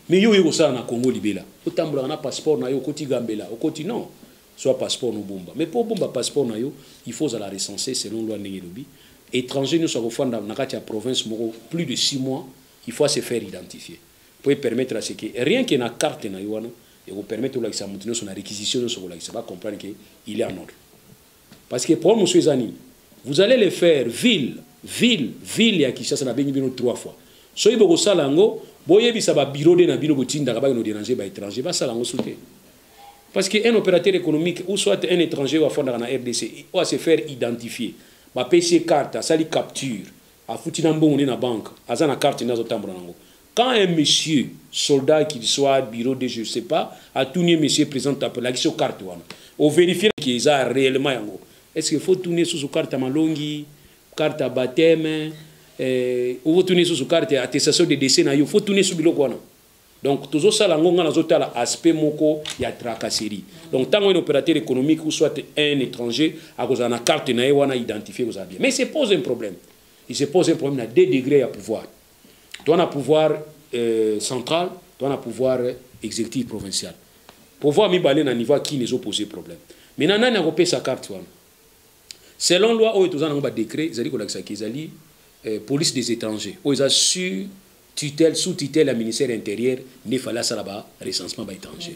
mais yo oye kosala na congo libela otambolaka na passeport na yo okoti gambela okoti non zwa passeport nobomba mais mpo obomba passeport na yo il faut ozala recense selon loi ndenge elobi étranger nyonso akofanda na kati ya province moko plus de 6 mois il faut se faire identifier mpo epermettre ya seke rien que na carte na yo wana Eko permettre olakisa mutu nioso na requisition nioso kolakisa ba comprendre que il est en ordre. Parce que problème mosusu eza nini? Vous allez le faire ville ville ville ya Kinshasa na bengi bino trois fois. Soki boko sala yango boyebisa ba bureau de na bino botindaka ba no déranger ba étrangers ba sala yango soute. Parce que un opérateur économique ou soit un étranger wa fondaka na RDC doit se faire identifier. Ba PC carte asali capture afuti na mbongo na banque aza na carte ndio azotambola nango. Quand un monsieur soldat qu'il soit bureau de je sais pas atuni ye monsieur president tape lakisi yo carte wana o verifier que eza réellement yango est ce que faut tuni ye susu carte ya malongi carte ya baptême eh, faut tuni ye susu carte ya attestation de décès na yo faut tuni ye susu biloko wana donc tozosala yango ngai nazotala aspect moko ya tracasserie donc ntango ene opérateur économique ou soit un étranger akozala na carte na ye wana identifie kozala bien mais se pose un problème il se pose un problème na deux degré ya pouvoir toa na pouvoir euh, central toa na pouvoir exécutif provincial pouvoir mibale na niveau ya kini ezopose problème mai na nani akopesa carte wana selon loi oyo toza nango badécret ezali kolakisaki ezali euh, police des étrangers oyo eza sur tutelle sous tutelle ya ministère intérieur nde fali asala ba recensement ba étranger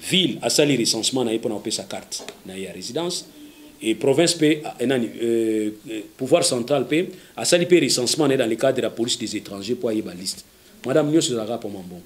Ville asali recensement na ye pona kopesa carte na ye ya residence et province pe eh, nani euh, euh, pouvoir central pe asali pe recensement na ye dans le cadre ya police des étrangers po ayeba liste madame nyonso ezalaka poma mbongo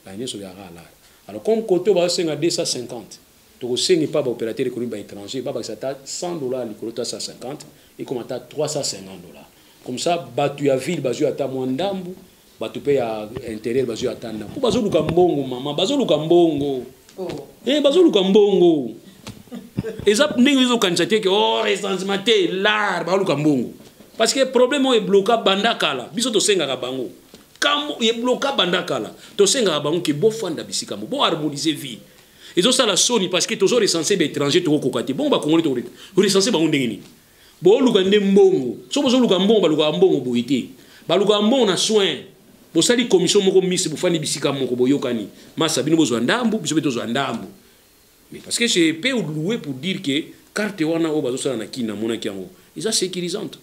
ba nyonso ezalaka alala alors comme koto baosenga 250 tokosenga epa baopérateur ekonomi ba étranger babakisa ata 100 dollar likolo to 150 ekoma ata 350 dollar comme ça bato ya ville bazwi ata mwa ndambu bato mpe ya interieur bazwi ata ndambo mpo bazoluka mbongo mama bazoluka mbongo oh. e eh, bazoluka mbongo eza ndenge ezokanisa te ke o oh, recensement te lar baluka mbongo parce que problème oyo ebloka banda kala biso tosengaka bango kambo ebloka banda kala tosengaka bango ke bofanda bisika mo boharmonise vie ezosala soni parce que tozo recense baétranger tokokoka te bongo bakongoli tokorecense bango ndenge nini boluka nde mbongo soki bozoluka mbongo balukaka mbongo boye te balukaka mbongo na soin bosali commission moko misi bofandi bisika moko boyokani masa bino bozwa ndambu biso mpe tozwa ndambu mais parce que je peux louer pour dire que carte wana oyo bazosala na kini namonaki yango eza sécurisante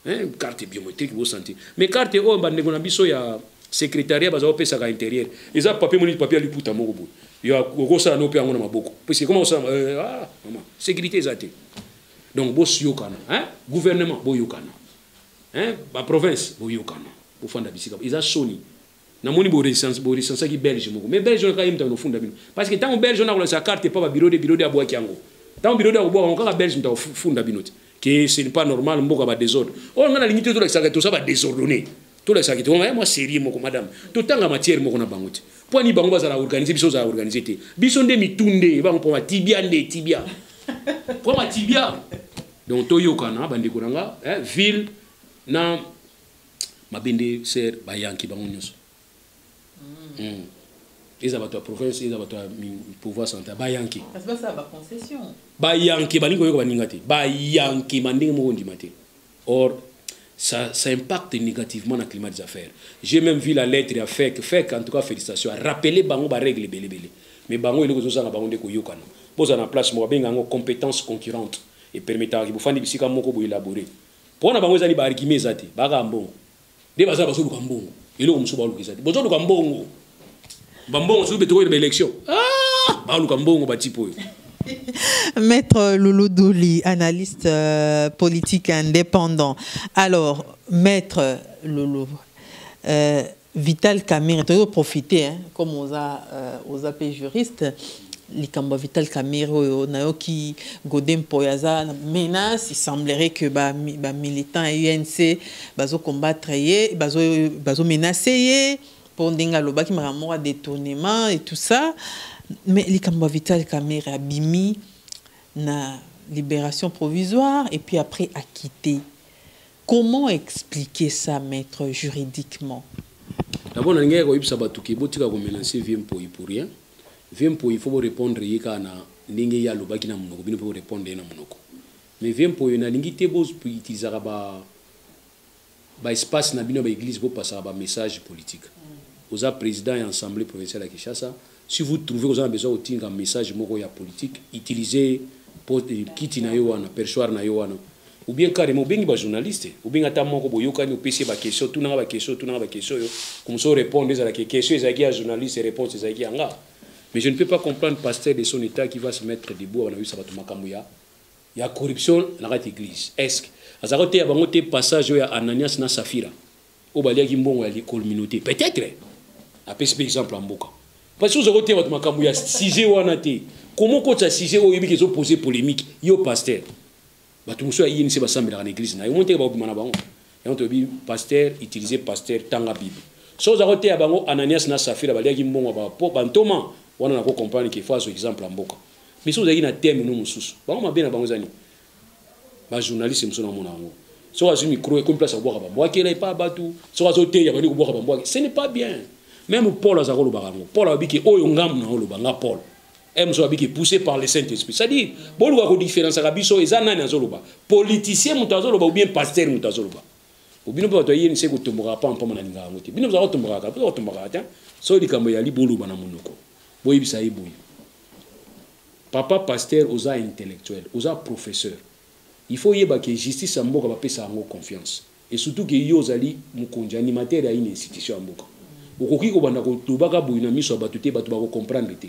hein, carte biométrique bosanti mais carte oyo bandeko na biso ya secrétariat baza kopesaka intérieur eza papier moni papier ya liputa moko boye okosala no mpe yango na maboko puisque koma osala euh, ah, mama sécurité eza te donc boyokana hein? gouvernement boyokana hein? baprovince boyokana bofanda bisika eza soni namoni boresansaki belge moko mais belge wana kaka ye moto akonofunda bino parce que ntango belge wana akolakisa carte epa babiro de biro de abwaki yango ntango biro de akobwaka yango kaka belge moto akofunda bino te ke ce n'est pas normal mboka badesordre oyo oh, ngai nalingi te tolakisaka toza badesordonne tolakisaka te wana mwa serie moko madame totanga matière moko na bango te mpo ani bango bazala organise biso ozala organise te biso nde mitu nde bango mpo matibia nde tibia mpo matibia donc toyokana bandeko na nga eh, ville na mabende ser bayanki bango nyonso mm. mm. eza bato ya province eza bato ya pouvoir central bayanki bayanki balingi koyoka baninga te bayanki ma ndenge moko ondima te Or, ça, ça impacte négativement na climat des affaires. J'ai même vu la lettre ya FEC. FEC, en tout cas, félicitations. A rappeler bango ba règles belé belé. Mais bango eloko zozanga bango nde koyokana. Boza na place moko benga ngo compétence concurrente et permettre ki bofandi bisika moko bo élaborer. Pona bango ezali ba arguments ezate, baka ambongo. nde baza bazoluka mbongo eloko mosusu baluka eza te bozoluka mbongo bambongo soki betokoyeba élection ah! baluka mbongo batipe oyo Maître Loulou Douli, analyste euh, politique indépendant. Alors, Maître Loulou, euh, Vital Kamere, tu as profité, hein, comme on a, euh, on a juriste, likambo ya vital camere oyo nayoki gode mpoy aza na menace il semblerait que bamilitant ba ya unc bazokombattre ye bazomenace bazo ye mpo ndenge alobaki makambo moko ya détournement et tout ça mais likambo ya vital camere abimi na libération provisoire et puis après acquitté comment expliquer ça maître juridiquement d'abord nalingaki koyebisa bato ke botika komenace vie mpoyi pour rien Vieux Mpoyi il faut bo repondre ye kaka na ndenge ye alobaki na munoko, bino pe bo repondre ye na munoko. Mais Vieux Mpoyi nalingi te bo utilisaka ba ba espace na bino ya ba eglise bo pasaka ba message politique. Oza president ya assemblee provinciale ya Kinshasa, si vous trouvez oza na besoin ya kotinga message moko ya politique, utiliser po kiti na yo wana, perchoir na yo wana. ou bien carrement obengi ba journaliste obengi ata moko boyokani opesi ye ba question tuna nga ba question tuna nga ba question oyo komisa orépondre ezala ke question ezalaki ya journaliste réponse ezalaki ya nga mais je ne peux pas comprendre pasteur de son état qui va se mettre debout abana koyebisa bato makambo ya ya corruption na kati église est-ce azalaki oteya bango te passage oyo ya ananias na safira oyo baliaki mbongo ya communauté peut-être apesi mpe exemple ya mboka parce que ozalaki oteya bato makambo ya sujet wana te komo okotisa sujet oyo oyebi ke ezopose polémique yo pasteur bato mosusu ya inc basambelaka na eglize na yo omoni teke bakobima na bango yango toyebi pasteur utilise pasteur tanga bible so oza koteya bango ananias na safira baliaki mbongo ya bapo bantoma wana nako comprendre ke fo azwa exemple ya mboka mais so ozalaki na teme no mosusu bango mabe na bango eza nini bajournaliste mosusu namona yango soki azwi micro ekomi place akobwaka bambwakela epa bato soki azoteya bandi kobwaka bambwake ce n'est pas bien meme paul aza kolobaka yango paul alobi ke oyo ngambo na oloba nga paul ems oyo abiki poussé par le saint esprit c'est-à-dire boluka kodifferenciaka biso eza nani azoloba politicien moto azoloba oubien pasteur moto azoloba obino mpe bato ya yeni se kotombokaka mpamba mpamba na lingaka yango te bino bozala kotombokaka boza kotombokaka te soki likambo eyali boloba na monoko boyebisa ye boye papa pasteur oza intellectuel oza professeur il faut oyeba ke justice ya mboka bapesa yango confiance Et surtout que yo ozali mokonzi, animateur ya une institution ya mboka. Okoki kobanda koloba kaka boye na miso ya bato te, bato bako comprendre te.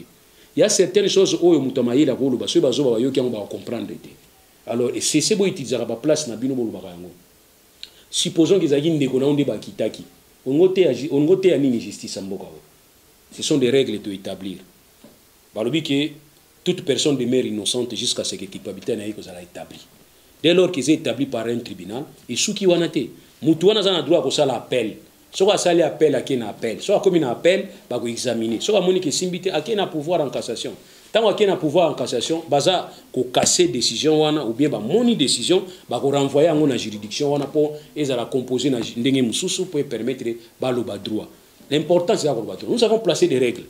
Il ya certaines choses oyo moto ya mayele akoki koloba, soki bazoba bayoki yango bako comprendre te. Alors cessez bo utilisaka ba places na bino bolobaka yango. Supposons que ezalaki ndeko na yo nde bakitaki. Olingi oteya, olingi oteya nini justice ya mboka oyo? Ce sont des règles to etablir. Balobi que toute personne demeure innocente jusqu'à ce que culpabilité na ye ekozala etablie. Dès lors qu'eza etabli par un tribunal, esuki wana te. Mutu wana aza na droit ya kosala appel. Soki asali appel, akei na appel. Soki akomi na appel, bako examiner. Soki amoni que esimbi te, akei na pouvoir en cassation. Tango akei na pouvoir en cassation, baza ko casser decision wana ou bien bamoni decision, bako renvoyer yango na juridiction wana mpo ezala composer na ndenge mosusu mpo e permettre baloba droit. L'important c'est koloba que nous avons placé des règles.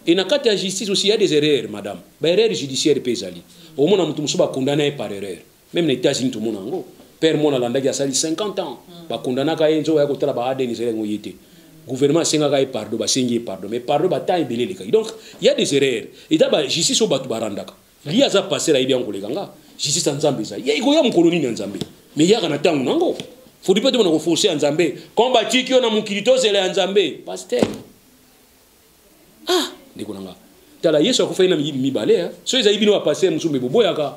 Et na kati ya justice aussi il y a des erreurs madame. Ba erreurs judiciaires pe ezali. Omona mutu musuba condamné par erreur. Même na États-Unis tout mona ngo. Père mona landaki asali 50 ans. Mm. Ba condamnaka ye nzo ya kotala ba ADN ezali ngo yete. Gouvernement asengaka ye pardon, ba sengi ye pardon. Mais pardon ba temps ebele leka. Donc il y a des erreurs. Et ba justice au batu barandaka. Lia aza passer ayebi yango koleka nga. Justice ya Nzambe eza. Ye ikoya mokolo nini ya Nzambe? Mais yaka na tango nango. Faut pas demona ko forcer ya Nzambe. Comme batiki yo na mokili tozela ya Nzambe. Pasteur. Ah, ndeko nanga. Tala Yesu akufaki na miyibi mibale. Hein? So ezali bino ba passer musumbe boboyaka.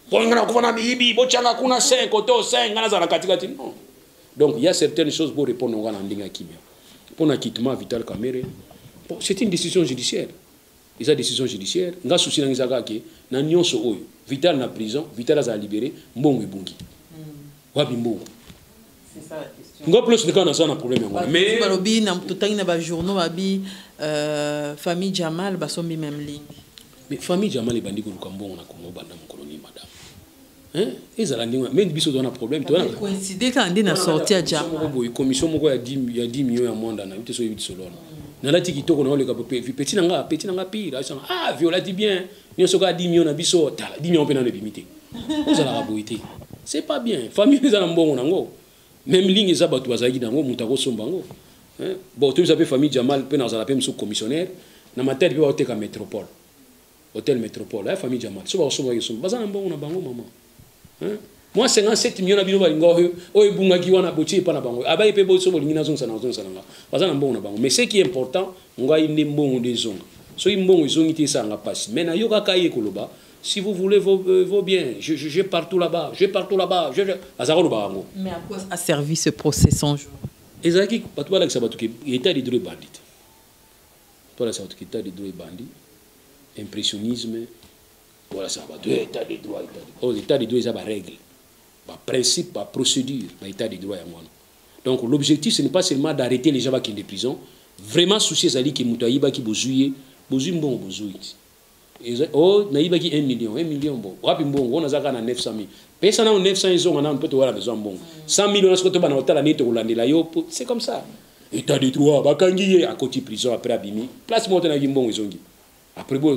Bonga na kufa na miyibi, bochanga kuna 5 koto 5 ngana zala katikati. Non. Donc il y a certaines choses pour répondre ngana ndinga kimia. Pona kitement Vital Kamere. Bon, c'est une décision judiciaire. Eza decision judiciaire, nga souci nanga eza kaka ke na nionso oyo Vital na prison, Vital azala libere, mbongo ebungi. Wapi mbongo? nga plus ndeka naza na problème yango wana mais balobi na totangi na ba journaux babi euh, famille Jamal basombi même ligne mais famille Jamal ebandi koluka mbongo na Congo banda mokolo nini madame Hein? ezala ndenge wana mende biso toza na problème coïncide kaka nde na sorti ya ja moko boye commission moko ya 10 millions ya mwanda na yo te so oyebi tisolo wana nalati kitoko na oleka petit na nga petit na nga pire asanga ah vi olati bien nyonso kaka 10 millions na biso tala 10 millions mpe nano ebimi te ozalaka boye te c'est pas bien famille eza na mbongo nango meme ligne eza bato bazalaki nango moto akosomba yango bon toyebisa mpe famille jamal mpe nazala mpe mosusu commissionnaire na matadi mpe baoteka métropole hotel metropole aya famille jamal so bakosombaka esomba baza na mbongo na bango mama mwa 57 million na bino balinga oyo oyo ebungaki wana botie epa na bango abaye mpe boso bolingi nazongisa na kozongisa na nga baza na mbongo na bango mais ce qui est important ngai nde mbongo nde ezonga soki mbongo ezongi te esanga mpasi mais nayokaka ye koloba si vous voulez vos, euh, vos biens je, je, je partout là-bas je partout là-bas je, je... aza koloba yango mais à quoi a servi ce procès 100 jours ezalaki bato balakisa bato ke état de droit ebandi te Tolasaka bato kita de droit ebandi impressionnisme tolasaka bato eh, etat de droit etat de oh, etat de droit eza barègle baprincipe baprocédure ba etat de droit yango wana donc l'objectif ce n'est pas seulement d'arrêter les gens bakende prison vraiment souci ezali ke moto ayibaki bozwi ye bozwi mbongo bozwi oh nayibaki 1 million 1 million bon wapi mbongo wana azaka na 900 000 pesa nano 900 ezonga nano mpe towana besoin mbongo 100 000 wana soki tobana kotala nini tokolandela yo mpo c'est comme ça état de droit bakangi ye akoti prison après abimi place moko tenaki mbongo ezongi après bo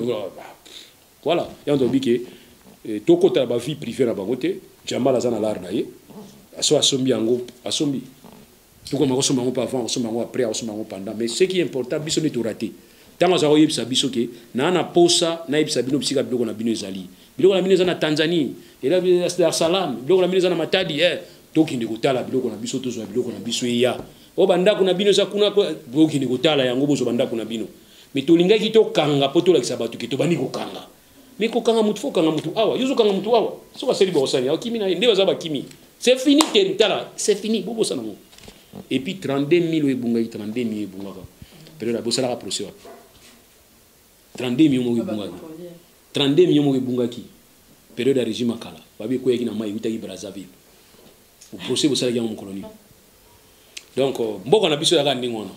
voilà yango tobi ke eh, tokotala bavie privé na bango te jambala aza na lare na ye aso asombi yango asombi tokoma kosomba yango mpe avant kosomba yango après akosomba yango pendant mais ce qui important biso nde torate ntango azala koyebisa biso ke naa na posa nayebisa bino bisika biloko na bino ezali biloko na bino eza na tanzanie ela dar salam biloko na bino eza na matadi eh, tokende kotala biloko na biso tozwa biloko na biso eya o oh, bandako na bino eza kuna bokende kotala yango bozwa bandako na bino me tolingaki tokanga mpo tolakisa bato ke tobandi kokanga mais kokanga motu fo okanga motu awa yo ozokanga motu awa soki asali bokosani akimi na ye nde baza bakimi c'est fini te tala c'est fini bobosana ngo et puis 32 000 oyo ebungaki 32 000 ebungaka periode bosalaka procès wapi 32 millions moko ebungaki 32 millions moko ebungaki periode ya régime akala babi ekweyaki na mai eutaki brazzaville procès bosalaki yango mokolo nini donc euh, mboka na biso yaka ndenge wana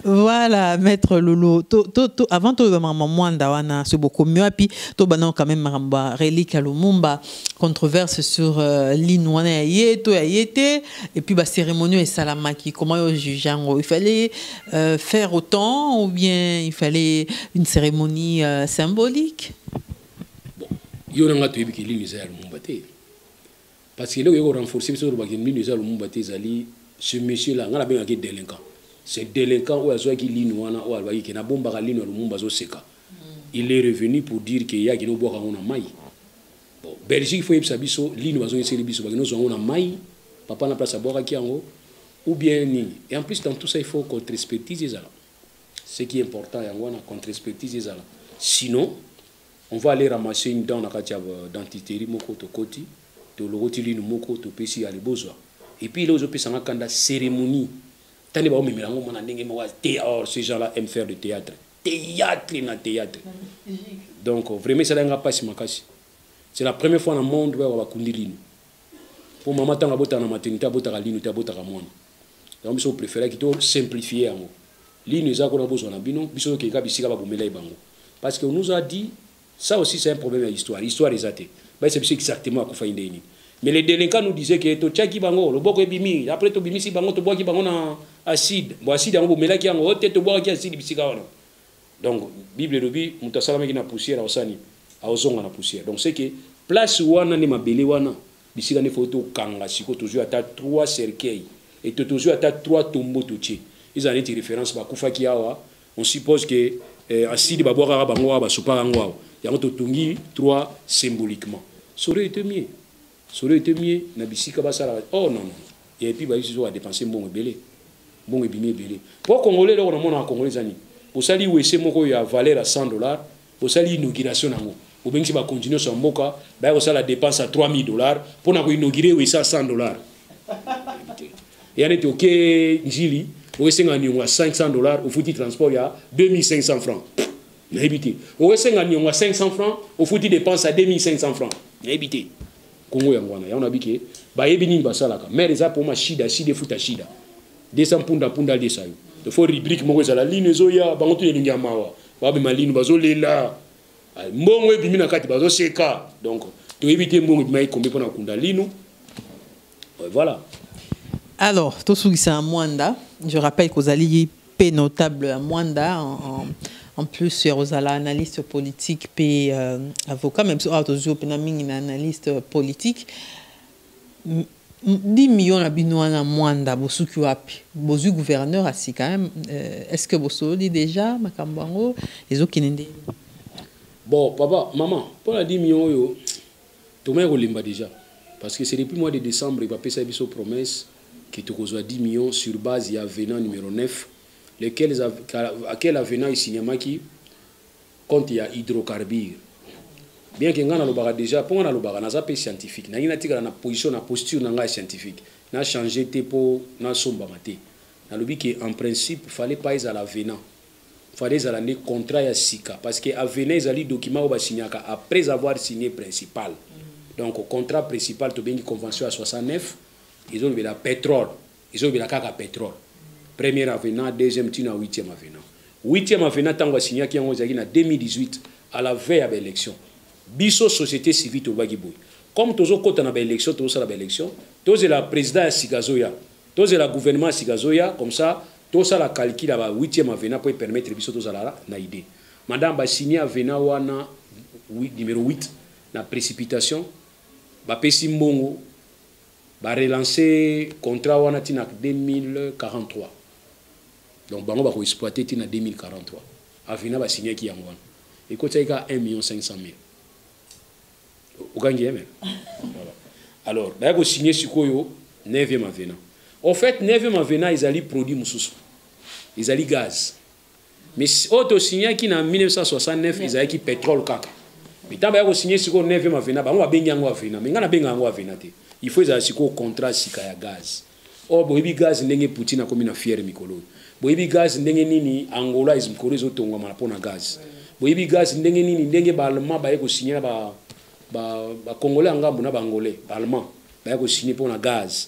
voilà maître lolo to, to, to, avant toyeba makambo mwanda wana soki bokomi wapi tobanda quand même makambo ya relique ya lumumba controverse sur euh, ligne wana ya ye to ya ye te et puis bacérémonie oyo esalamaki comment yo juge yango il fallait euh, faire autant ou bien il fallait une cérémonie euh, symbolique bon, yo na nga toyebi ke ligne eza ya lumumba te Parce que eloko yoko renforcer biso lobaki mino eza lumumba te ezali ce monsieur là ngala benga ki délinquant. Ce délinquant oyo azwaki lino wana oyo alobaki ke nabombaka lino ya lumumba azoseka. Hmm. Il est revenu pour dire que yaki no bwaka ngo na mai. Bon, Belgique faut yebisa biso lino bazongiseli biso bakino zwa ngo na mai. Papa na place abwakaki yango ou bien nini. Et en plus dans tout ça il faut contre expertise ezala. Ce qui est important yango wana contre expertise ezala. Sinon On va aller ramasser une dent na kati ya euh, dentiterie moko tokoti tolokoti linu moko topesi ya libozwa et puis là ozopesa nga kanda cérémonie tande baomemela yango mwana ndenge moko te or ces gens là aiment faire de théâtre théâtre na théâtre donc vraiment esalaki nga mpasi makasi c'est la première fois na monde bayoka bakundi linu mpo mama ntango abotaka na maternité abotaka linu te abotaka mwana yango biso préféraki to simplifie yango Lino eza kuna bozwa na bino biso tokei kaka bisika babomelai bango parce que on nous a dit ça aussi c'est un problème ya histoire histoire eza te bayesa biso exactement akufaki ndenge nini mais les délinquants nous disaient que totiaki bango loboko ebimi après tobimisi bango tobwaki bango na acide bon acide yango bomelaki yango ote tobwakaki acide bisika wana donc bible elobi moto asalamaki na poussière aosani aozonga na poussière donc c'est que place wana nde mabele wana Bisika nde faut tokanga siko tozwi ata trois cercueil et to tozwi ata trois tombeau totie ezala neti reference bakufaki awa on suppose que eh, asidi babwakaka bango awa basopaka yango awa yango totongi trois symboliquement sore ete mie sore ete mie na bisika basala oh non non et puis bayisi soka dépenser mbongo ebele mbongo ebimi ebele mpo congolais eloko namonaka congolais eza nini osali wese moko ya valeur ya 100 dollars Bosali inauguration nango, bobengisi bakonzi nyonso ya mboka, baya kosala depense ya 3000 dollars mpo na koinaugure oyo esa 100 dollars. eya neti oke njili oesenga niongo ya 500 dollars ofuti transport ya 2500 francs nayebi te oesenga niongo ya 500 francs ofuti depense ya 2500 francs nayebi te kongo yango wana yango nabi ke bayebi nini basalaka maire eza mpo mashida shida efuta shida desa mpunda mpunda alesa yo faut rubrique moko ezala lino ezoya bango to elingi ya mawa Ba mema linu bazo lela. Ah, mbongo ebimi na kati bazo seka. Donc to éviter mbongo ebima ikombe pona kunda linu. Voilà. Alors, to sugisa Mwanda, je rappelle que ozali pe notable à Mwanda en, en en plus ya kozala analyste politique mpe euh, avocat même so awa tozwi mpe na mingi na analyste politique 10 millions na bino wana mwanda bosuki wapi bozui gouverneur asi quand même euh, est ce que bosololi déjà makambo yango ezokende nde bon papa maman mpo na 10 millions oyo tomai kolemba déjà parce que c'est depuis mois de décembre bapesa biso promesse que tokozwa 10 millions sur base ya venant numéro 9 lequel, à quel avenant isinyamaki compte ya hydrocarbure bien que nga na lobaka deja po nga na lobaka naza pe scientifique nangi natikala na position na posture na nga ya scientifique na changer te po na sombama te nalobi que en principe fallait pas ezala venant fallait ezala nde contrat ya sika parce que avenant ezali document oyo basignaka après avoir signé principal donc contrat principal tobengi convention ya 69 ezolobela petrole ezolobela kaka petrole première avenant deuxième tina huitième avenant huitième avenant ntango asignaki yango ezalaki na 2018 à la veille ya baélection biso société civile tolobaki boye comme tozokɔta na baélection tozosala baélection tozela président ya sika azoya tozela gouvernement ya sika azoya comme ça tosala calcul ya ba huitième avenant mpo epermettre biso tozala na idée madame basigne avenant wana numéro 8 na précipitation bapesi mbongo Ba relance contrat wana ti na 2043. Donc bango bako exploiter ti na 2043. Avina ba signaki yango wana. Ekotisaki kaka 1 million 500 mille. Okangi yeme? Voilà. Alors, baya ko signer sikoyo 9e avenant. Au fait, 9e avenant ezali produit mosusu. Ezali gaz. mais oyo tosignaki na 1969 ezalaki petrole kaka mitango baya kosigne sikoyo 9 avena bango babengi yango avena me ngai nabenga yango avena te il faut ezala sikoyo contrat sika ya gaz or oh, boyebi gaz ndenge poutine akomi na fiere mikolo boyebi gaz ndenge nini angola mikolo ezotongwama mpo na gaz boyebi gaz ndenge nini ndenge baallemand baye kosigne na bacongolais ba, ba ya ngambo na baangolais baallemand baye kosigne mpo na gaz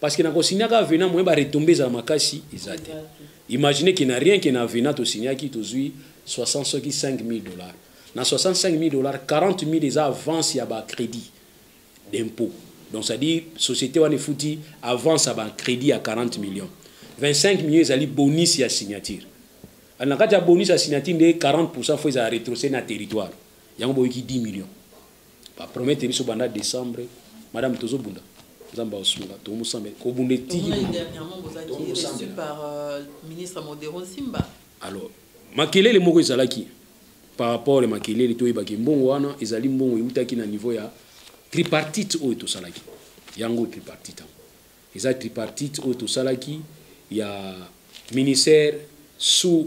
parce que na ko signer ka vena moyen ba retomber za makasi eza te imaginez que na rien que na vena to signer ki to zui 60 soki 5000 dollars na 65000 dollars 40000 eza avance ya ba crédit d'impôt donc ça dit société wana efuti avance ya ba crédit ya 40 millions 25 millions ezali bonus ya signature na kati ya bonus ya signature nde 40 pourcent fo ezala retrocé na territoire yango boyoki 10 millions ba promettre biso banda décembre madame tozo bunda nzambe aosunga tomusambela kobunda etiki alors makelele moko ezalaki par rapport ya makelele toyebaki mbongo wana ezali mbongo eutaki na niveau ya tripartite oyo tosalaki yango tripartite yango eza tripartite oyo tosalaki ya ministère sous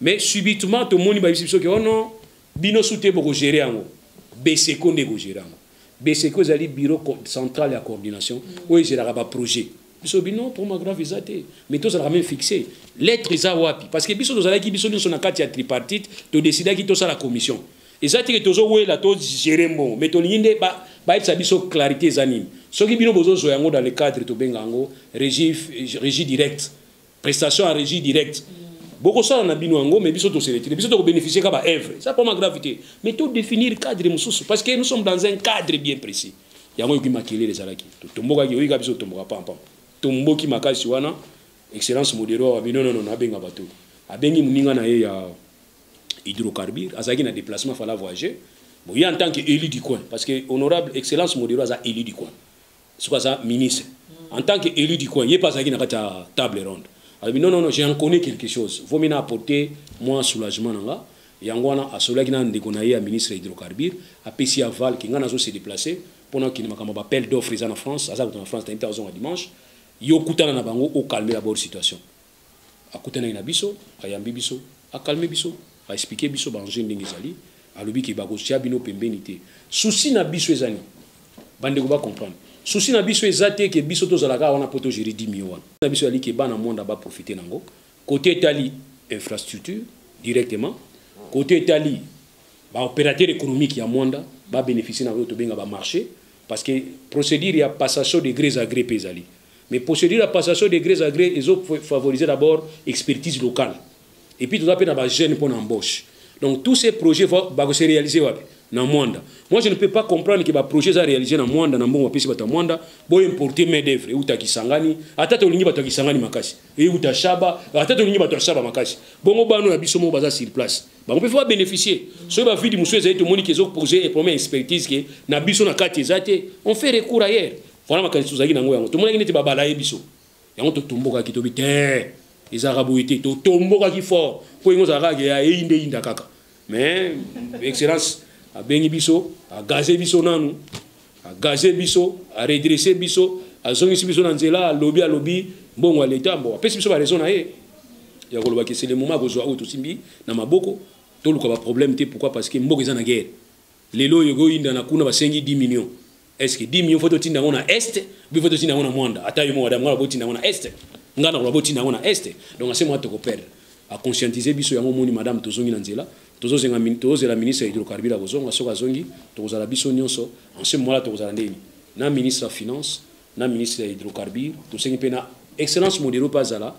Mais subitement tomoni bayebisi biso ke oh non bino su te boko gérer yango. Beseko nde eko gérer yango. Beseko ezali bureau central ya coordination mm. oyo ezelaka ba projet. Biso bino trauma grave eza te mais tozalaka même fixé lettre eza wapi parce que biso tozalaki biso nyonso na kati ya tripartite todesidaki tosala commission eza teke tozowela togere mbongo mais tolingi nde bayebisa biso clarité eza nini soki bino bozozwa yango dans le cadre tobenga yango régie direct prestation à régie directe bokosala na bino yango mais biso toseletire biso tokobénéficie ka baœuvre ça poma grave te mais to définir cadre mosusu parce que nous sommes dans un cadre bien précis yango yoki makelele ezalaki totombokaki oyika biso totomboka pampam tomboki makasi wana excellence modero wabi nononono abenga bato abengi moninga na ye ya hydrocarbure azalaki na déplacement fala voyager boye en tant que élu du coin parce que honorable excellence modero aza élu du coin soki aza ministre en tant que élu du coin ye mpe azalaki na kati ya table ronde alobi non non non j'ai en connais quelque chose vaut mieux na apporter mwa soulagement na nga yango wana asololaki na ndeko na ye ya ministre ya hydrocarbure apesi ya val ke ngai nazo se déplacer mpo nakende makambo ya bapel d'offre eza na france aza kuta na france nayebi te azonga dimanche yo okutana na bango okalme d'abord situation akutanaki na biso ayambi biso akalme biso aexplike biso baenjeu ndenge ezali alobi ke bakotya bino pembeni te susi na biso ezani bandeko bacomprendre susi na biso eza te ke biso tozalaka wana mpo togere dimio wana na biso ezali ke bana mwanda baprofite na yango kote etali infrastructure directement kote etali baopérateur économique ya mwanda babénéficie na oyo tobenga bamarché parce que procédure ya passation de gré à gré mpe ezali Mais procédure ya passation de gré à gré ezo favoriser d'abord expertise locale. Et puis toza pe na ba jeunes pour l'embauche. Donc tous ces projets vont ba se réaliser wapi na Mwanda. Moi je ne peux pas comprendre que ba projets za réaliser na Mwanda na mbongo pesi bata Mwanda bo importer main d'œuvre uta Kisangani ata to lingi bata Kisangani makasi. Et uta Shaba ata to lingi bata Shaba makasi. Bongo bano na biso mo baza sur place. Ba on peut pas bénéficier. Soki ba vide musueza eto moni que zo poser et promet expertise que na biso na kati ezate on fait recours ailleurs. wana makanisi tozalaki na yango yango tomonaki neti babala ye biso yango totombokaki tobi te ezalaka boye te totombokaki fort mpo yango ozalaka kaka ya eyinda eyinda kaka mais excellence abengi biso agaze biso nanu agaze biso aredresse biso azongisi biso na nzela alobi alobi mbongo ya leta mbo apesi biso baraison na ye ya koloba ke sele moma akozwa oyo tosimbi na maboko toluka baproblème te pourquoi parce que mboka eza na guerre lelo oyo ekoyindana kuna basengi 10 millions est ce que dimi yo faut totinda yango na est ou bien faut totinda yango na mwanda ata yo moko adamu ngala botinda yango na est ngai nakola botinda yango na est donc ase mwa tokoperdre aconscientise biso yango omoni madame tozongi na nzela tozozela ministre ya hydrocarbure akozonga soki azongi tokozala biso nyonso ense mwala tokozala ndeni na ministre ya finance na ministre ya hydrocarbure tosengi mpe na excellence modero mpe azala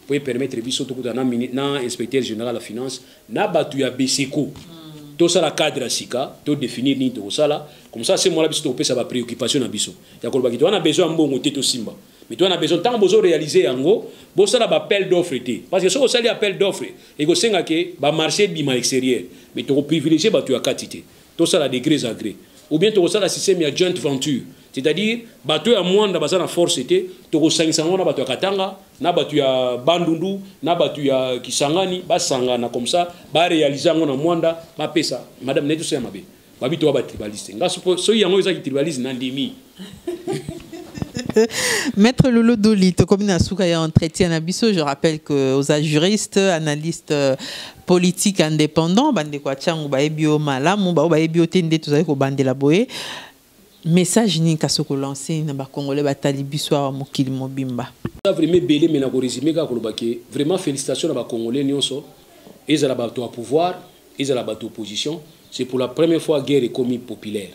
mpo e permettre biso tokutana na, na inspecteur général ya finance na bato ya beseko hmm. tosala cadre ya sika to définir nini tokosala comme ça se mola biso tokopesa ba préoccupation na biso ya koloba kito wana besoin ya mbongo te tosimba mais to wana besoin ntango bozo réaliser yango bosala ba appel d'offre te parce que soki osali appel d'offre ekosenga ke ba marché ebima extérieur mais tokoprivilégie bato ya kati te tosala degres a gres ou bien tokosala système ya joint venture c'est-à-dire bato ya mwanda baza na force te tokosangisa yango na bato ya katanga na bato ya bandundu na bato ya kisangani basangana comme ça barealise yango na mwanda bapesa madame naye tosala mabe babi toya batribaliste nga soki yango eza kitribaliste nandimi Maître Lolo Doli, tu comme Nasuka ya entretien à biso, je rappelle que aux juristes, analystes euh, politiques indépendants, bande kwa changu ba ebio malamu, ba ba ebio tende tozali ko bande la boye. Message ni kasoko lancer na ba congolais ba talibiso wa mokili mobimba. Ça vraiment belé mais na ko résumer ka koloba ke vraiment félicitations na ba congolais nionso. Ezala ba to pouvoir, ezala ba opposition, c'est pour la première fois guerre est commis populaire.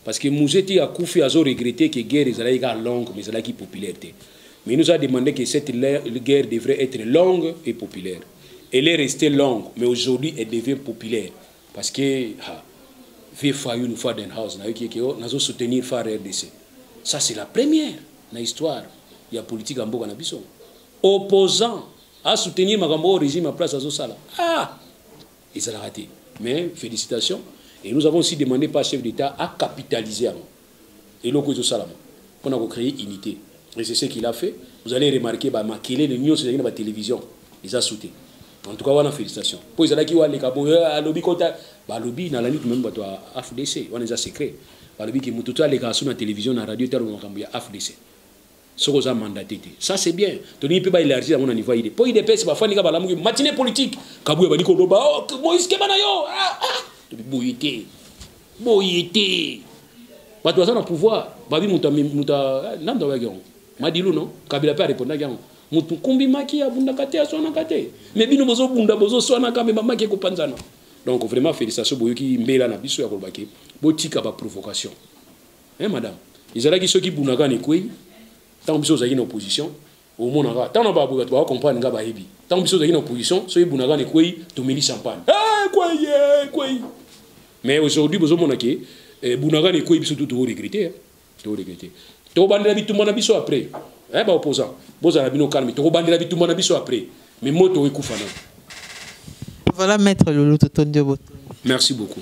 Parce que Mouze ti akufi azo regretter que guerre ezalaki kaka longue mais ezalaki populaire te. Mais il nous a demandé que cette guerre devrait être longue et populaire. Elle est restée longue mais aujourd'hui elle devient populaire parce que ha vieux Fayoul Fadenhouse na yoki oh, nazo soutenir Far RDC. Ça c'est la première na histoire ya politique ya mboka na biso. Opposant a soutenir makambo au régime en place azo sala. Ah! ezalaka te mais félicitation et nous avons aussi demandé par chef d'état à capitaliser yango eloko ezosalama mpo na kocréer unité et c'est ce qu'il a fait vous allez remarquer bamakelele nyonso ezalaki na batélévision eza soute en tout cas wana félicitation mpo ezalaki waleka boye eh, alobi kota balobi nalandi tumeme bato ya afdc wana eza secret balobi ke moto to aleka asu na télévision na radio te aloba makambo ya afdc soki oza mandate te ça c'est bien tolingi mpe baélargir yango na niveau ya idps mpo idps bafandi kaka balamuki matine politique kabuya bandi koloba oh, moïse keba na yo ah, ah. boye te boye te bato baza na pouvoir babi moto ah, nani moto abayaki yango madilu no kabila mpe arepondaki yango motu nkumbi maki abundaka te aswanaka te mais bino bozobunda bozoswanaka me bamaki ekopanzana donc vraiment félicitation boyoki mbela na biso ya kolobaki botika baprovocation eh madame ezalaki soki bunagana ekwei ntango biso ozalaki na opposition omonaka ntango na baboye bato baka comprendre nga bayebi ntango biso ozalaki na opposition soki bunagana ekwei tomeli champagne eh, ekwei eh, ekwei mais aujourd'hui bozomona ke eh, bunagana ekwei biso tu toregrete eh. toregrete tokobandela bitumba na biso après eh, baopposant bozala bino calme tokobandela bitumba na biso après mais moto ekufa na voilà maître lolo totondi yo botondi merci beaucoup